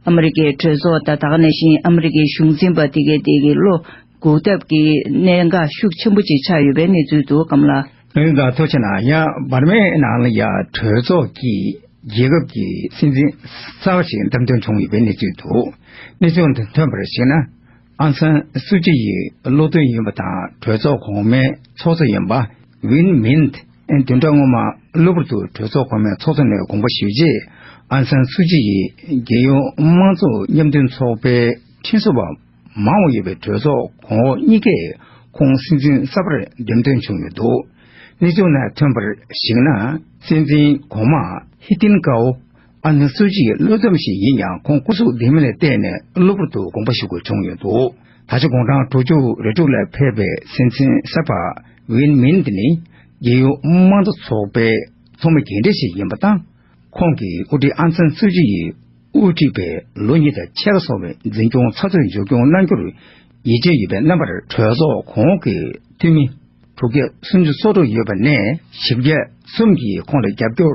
ཨ་མི་རི་ཀའི་གྲོས་ཚོགས་དང་ད་ག་ནས་བཞིན་ཨ་མི་རི་ཀའི་གཞུང་འཛིན་པ་དེ་གའི་དེ་གའི་བློ་འགུག་ཐབས་ཀྱི་གནད་འགག་ཤུགས་ཆེན་པོ་ཅིག་ཆགས་ཡོད་པའི་གནས་ཚུལ་འདུག་གམ་ལགས། འོན་ཀྱང་ཐུགས་ཆེ་ན་ཡང་འབར་མའི་ནང་ལ་ཡང་གྲོས་ཚོགས་ཀྱིས་རྒྱལ་ཁབ་ཀྱི་སྲིད་འཛིན་གསར་བ་ཞིག་འདམས་ཐོན་བྱུང་ཡོད་པའི་གནས་ཚུལ་འདུག་གནས་ཚུལ་དེ་ཐོན་པར་གཞིགས་ན་ཨང་སན་སུ་ཅི་ཡི་བློ་མཐུན་ཡིན་པ་དང་གྲོས་ཚོགས་གོང་མའི་ཚོགས་གཙོ་ཡིན་པ། ཝིན་མིན་ཏེ་བདུན་ཕྲག་སྔོན་མ་གློ་བུར་དུ་གྲོས་ཚོགས་གོང་མའི་ཚོགས་གཙོ་ནས་དགོངས་པ་ཞུས་རྗེས་ཨང་སན་སུ་ཅི་ཡིས་རྒྱལ་ཡོངས་དམངས་གཙོ་མཉམ་མཐུན་ཚོགས་པའི་ཁྲིམས་བཟོ་བ་མང་བ་ཡོད་པའི་གྲོས་ཚོགས་གོང་འོག་གཉིས་ཀས་ཁོང་སྲིད་འཛིན་གསར་པར་འདེམས་ཐོན་བྱུང་ཡོད་འདུག་གནས་ཚུལ་ནས་ཐོན་པར་གཞིགས་ན་སྲིད་འཛིན་གོང་མ་ཧི་ཏིན་ཀའོ་ཨ་ནེ་སུ་ཅིའི་བློས་བསྡོམས་ཤིག་ཡིན་ཡང་ཁོང་སྐུ་གཟུགས་བདེ་མིན་ལ་བལྟས་ནས་གློ་བུར་དུ་དགོངས་པ་ཞུ་དགོས་བྱུང་ཡོད་འདུག་ད་ཆ་དགུང་གྲངས་དྲུག་ཅུ་རེ་དྲུག་ལ་ཕེབས་པའི་སྲིད་འཛིན་གསར་པ་ཝིན་མིན་ཏི་ནི་རྒྱལ་ཡོངས་དམངས་གཙོ་ཚོགས་པའི་ཚོགས་མི་རྒན་གྲས་ཤིག་ཡིན་པ་དང། ཁོང་གིས་དབུ་ཁྲིད་ཨང་སན་སུ་ཅི་ཡིས་དབུ་ཁྲིད་པའི་ལོ་གཉིས་དང་ཕྱེད་ཀ་སོང་བའི་འཛིན་སྐྱོང་ཚགས་ཚུད་མཇུག་སྐྱོང་གནང་རྒྱུར་ཡིད་ཆེས་ཡོད་པའི་རྣམ་པར་གྲོས་ཚོགས་གོང་གི་འཐུས་མི་དྲུག་བརྒྱ་སུམ་ཅུ་སོ་དྲུག་ཡོད་པ་ནས་བཞི་བརྒྱ་གསུམ་གྱིས་ཁོང་ལ་རྒྱབ་སྐྱོར་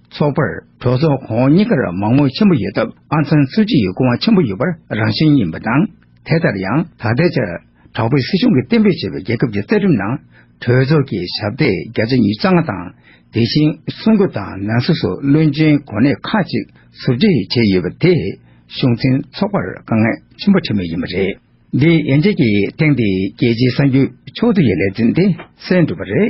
ཚོགས་པར་གྲོས་ཚོགས་གོང་འོག་གཉིས་ཀར་མང་མོས་ཆེན་པོ་ཡོད་སྟབས་ཨང་སན་སུའུ་སྐྱིད་ཡི་སྐུ་དབང་ཆེན་པོ་ཡོད་པར་རང་བཞིན་ཡིན་པ་དང། དེ་ལྟར་ཡང་ད་ལྟའི་ཆར་དྲག་པོའི་སྲིད་གཞུང་གིས་གཏན་འབེབས་བྱས་པའི་རྒྱལ་ཁབ་ཀྱི་རྩ་ཁྲིམས་ནང་གྲོས་ཚོགས་ཀྱི་ཞབས་སྟེགས་བརྒྱ་ཆ་ཉིས་རྩ་ལྔ་དང་དེ་བཞིན་གསུང་སྒོ་དང་ནང་སྲིད་སོགས་བློན་ཆེན་གོ་གནས་ཁག་ཅིག་ཟུར་བརྗེ་བྱས་ཡོད་པ་དེས་གཞུང་འཛིན་ཚོགས་པར་དཀའ་ངལ་ཆེན་པོ་འཕྲད་མུས་ཡིན་པ་རེད། འདིའི་ཡན་ཆད་ཀྱི་ཐེངས་འདིའི་རྒྱལ་སྤྱིའི་གསར་འགྱུར་ཕྱོགས་བསྡུས་ཀྱི་ལེ་ཚན་འདི་གསན་གྲུབ་པ་རེད།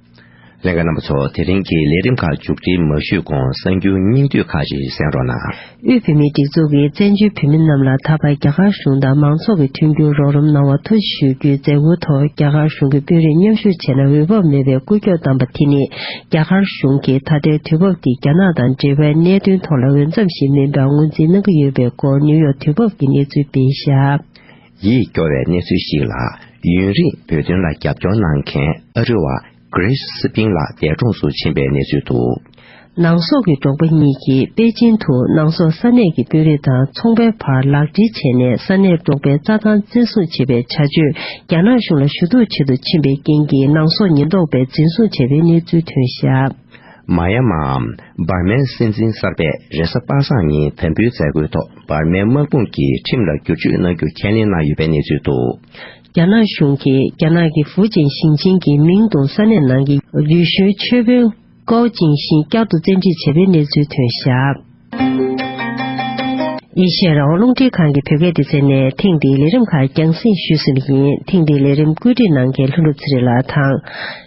ལན། རྣམ་པ་ཚོ་དེ་རིང་གི་ལས་རིམ་ཁག་མཇུག་སྒྲིལ་མ་ཞུས་གོང་གསར་འགྱུར་སྙིང་བསྡུས་ཁག་ཅིག་གསན་རོགས་གནང། དབུས་བོད་མིའི་སྒྲིག་འཛུགས་ཀྱིས་བཙན་བྱོལ་བོད་མི་རྣམས་ལ་ད་བར་རྒྱ་གར་གཞུང་དང་མང་ཚོགས་ཀྱི་མཐུན་འགྱུར་རོགས་རམ་གནང་བར་ཐུགས་རྗེ་ཞུ་རྒྱུའི་མཛད་སྒོའི་ཐོག་རྒྱ་གར་གཞུང་གི་དཔོན་རིགས་མཉམ་ཞུགས་བྱས་ན་འོས་བབ་མེད་པའི་སྐུལ་ལྕོག་བདམས་པ་དེ་ནི་རྒྱ་གར་གཞུང་གིས་ད་ལྟའི་དུས་བབ་འདི་རྒྱ་ནག་དང་འབྲེལ་བའི་གནད་དོན་ཐོག་ལ་འོས་འཚམ་ཞིག་མིན་པར་ངོས་འཛིན་གནང་གི་ཡོད་པའི་སྐོར་ནེའུ་ཡོག་དུས་བབ་ཀྱི་གནས་ཚུལ་སྤེལ་ཞབས། ཡིད་སྐྱོ་བའི་གནས་ཚུལ་ཞིག་ལ་ཡུན་རིང་བོད་དོན་ལ་རྒྱབ་སྐྱོར་གནང་མཁན་ཨ་རི་བ Grace Sping ལགས་འདས་གྲོངས་སུ་ཕྱིན་པའི་གནས་ཚུལ་དུ། ནང་སོག་གི་འབྲོག་པ་གཉིས་ཀྱིས་པེ་ཅིན་དུ་ནང་སོག་ས་གནས་ཀྱི་དཔོན་རིགས་དང་ཚོང་པའི་བར་ལག་འབྲེལ་བྱས་ནས་ས་གནས་འབྲོག་པའི་རྩྭ་ཐང་བཙན་བཟུང་བྱེད་པའི་བྱ་སྤྱོད་རྒྱ་ནག་གཞུང་ལ་ཞུ་གཏུག་བྱེད་དུ་ཕྱིན་པའི་རྐྱེན་གྱིས་ནང་སོག་ཉེན་རྟོག་པས་འཛིན་བཟུང་བྱས་པའི་གནས་ཚུལ་ཐོན་ཞབས། མ་ཡ་མའམ་འབར་མའི་སྲིད་འཛིན་གསར་པས་རེ་ས་པ་སངས་ཉིན་དམ་འབུལ་མཛད་སྒོའི་ཐོག་འབར་མའི་དམག་དཔུང་གི་ཁྲིམས་ལ་བསྒྱུར་བཅོས་གནང་རྒྱུ་ཁས་ལེན་གནང་ཡོད་པའི་གནས་ཚུལ་འདུག། རྒྱ་ནག་གཞུང་གིས་རྒྱ་ནག་གི་ཧྥུའུ་ཅན་ཞིང་ཆེན་གྱི་མིང་དང་ས་གནས་ནང་གི་རྡུལ་ཞུན་མཆོད་དཔོན་ཀའོ་ཅིང་ཤིན་བསྐྱར་དུ་བཙན་ཁྲིད་བྱས་པའི་གནས་ཚུལ་ཐོན་ཞབས། ཨེ་ཤེ་ཡ་རང་དབང་རླུང་འཕྲིན་ཁང་གི་བོད་སྐད་སྡེ་ཚན་ནས་ཐེངས་འདིའི་ལས་རིམ་ཁག་རྒྱང་བསྲིངས་ཞུས་ཟིན་པ་ཡིན་ཐེངས་འདིའི་ལས་རིམ་བཀོད་སྒྲིག་གནང་མཁན་ལྷུན་གྲུབ་ཚེ་རིང་ལགས་དང།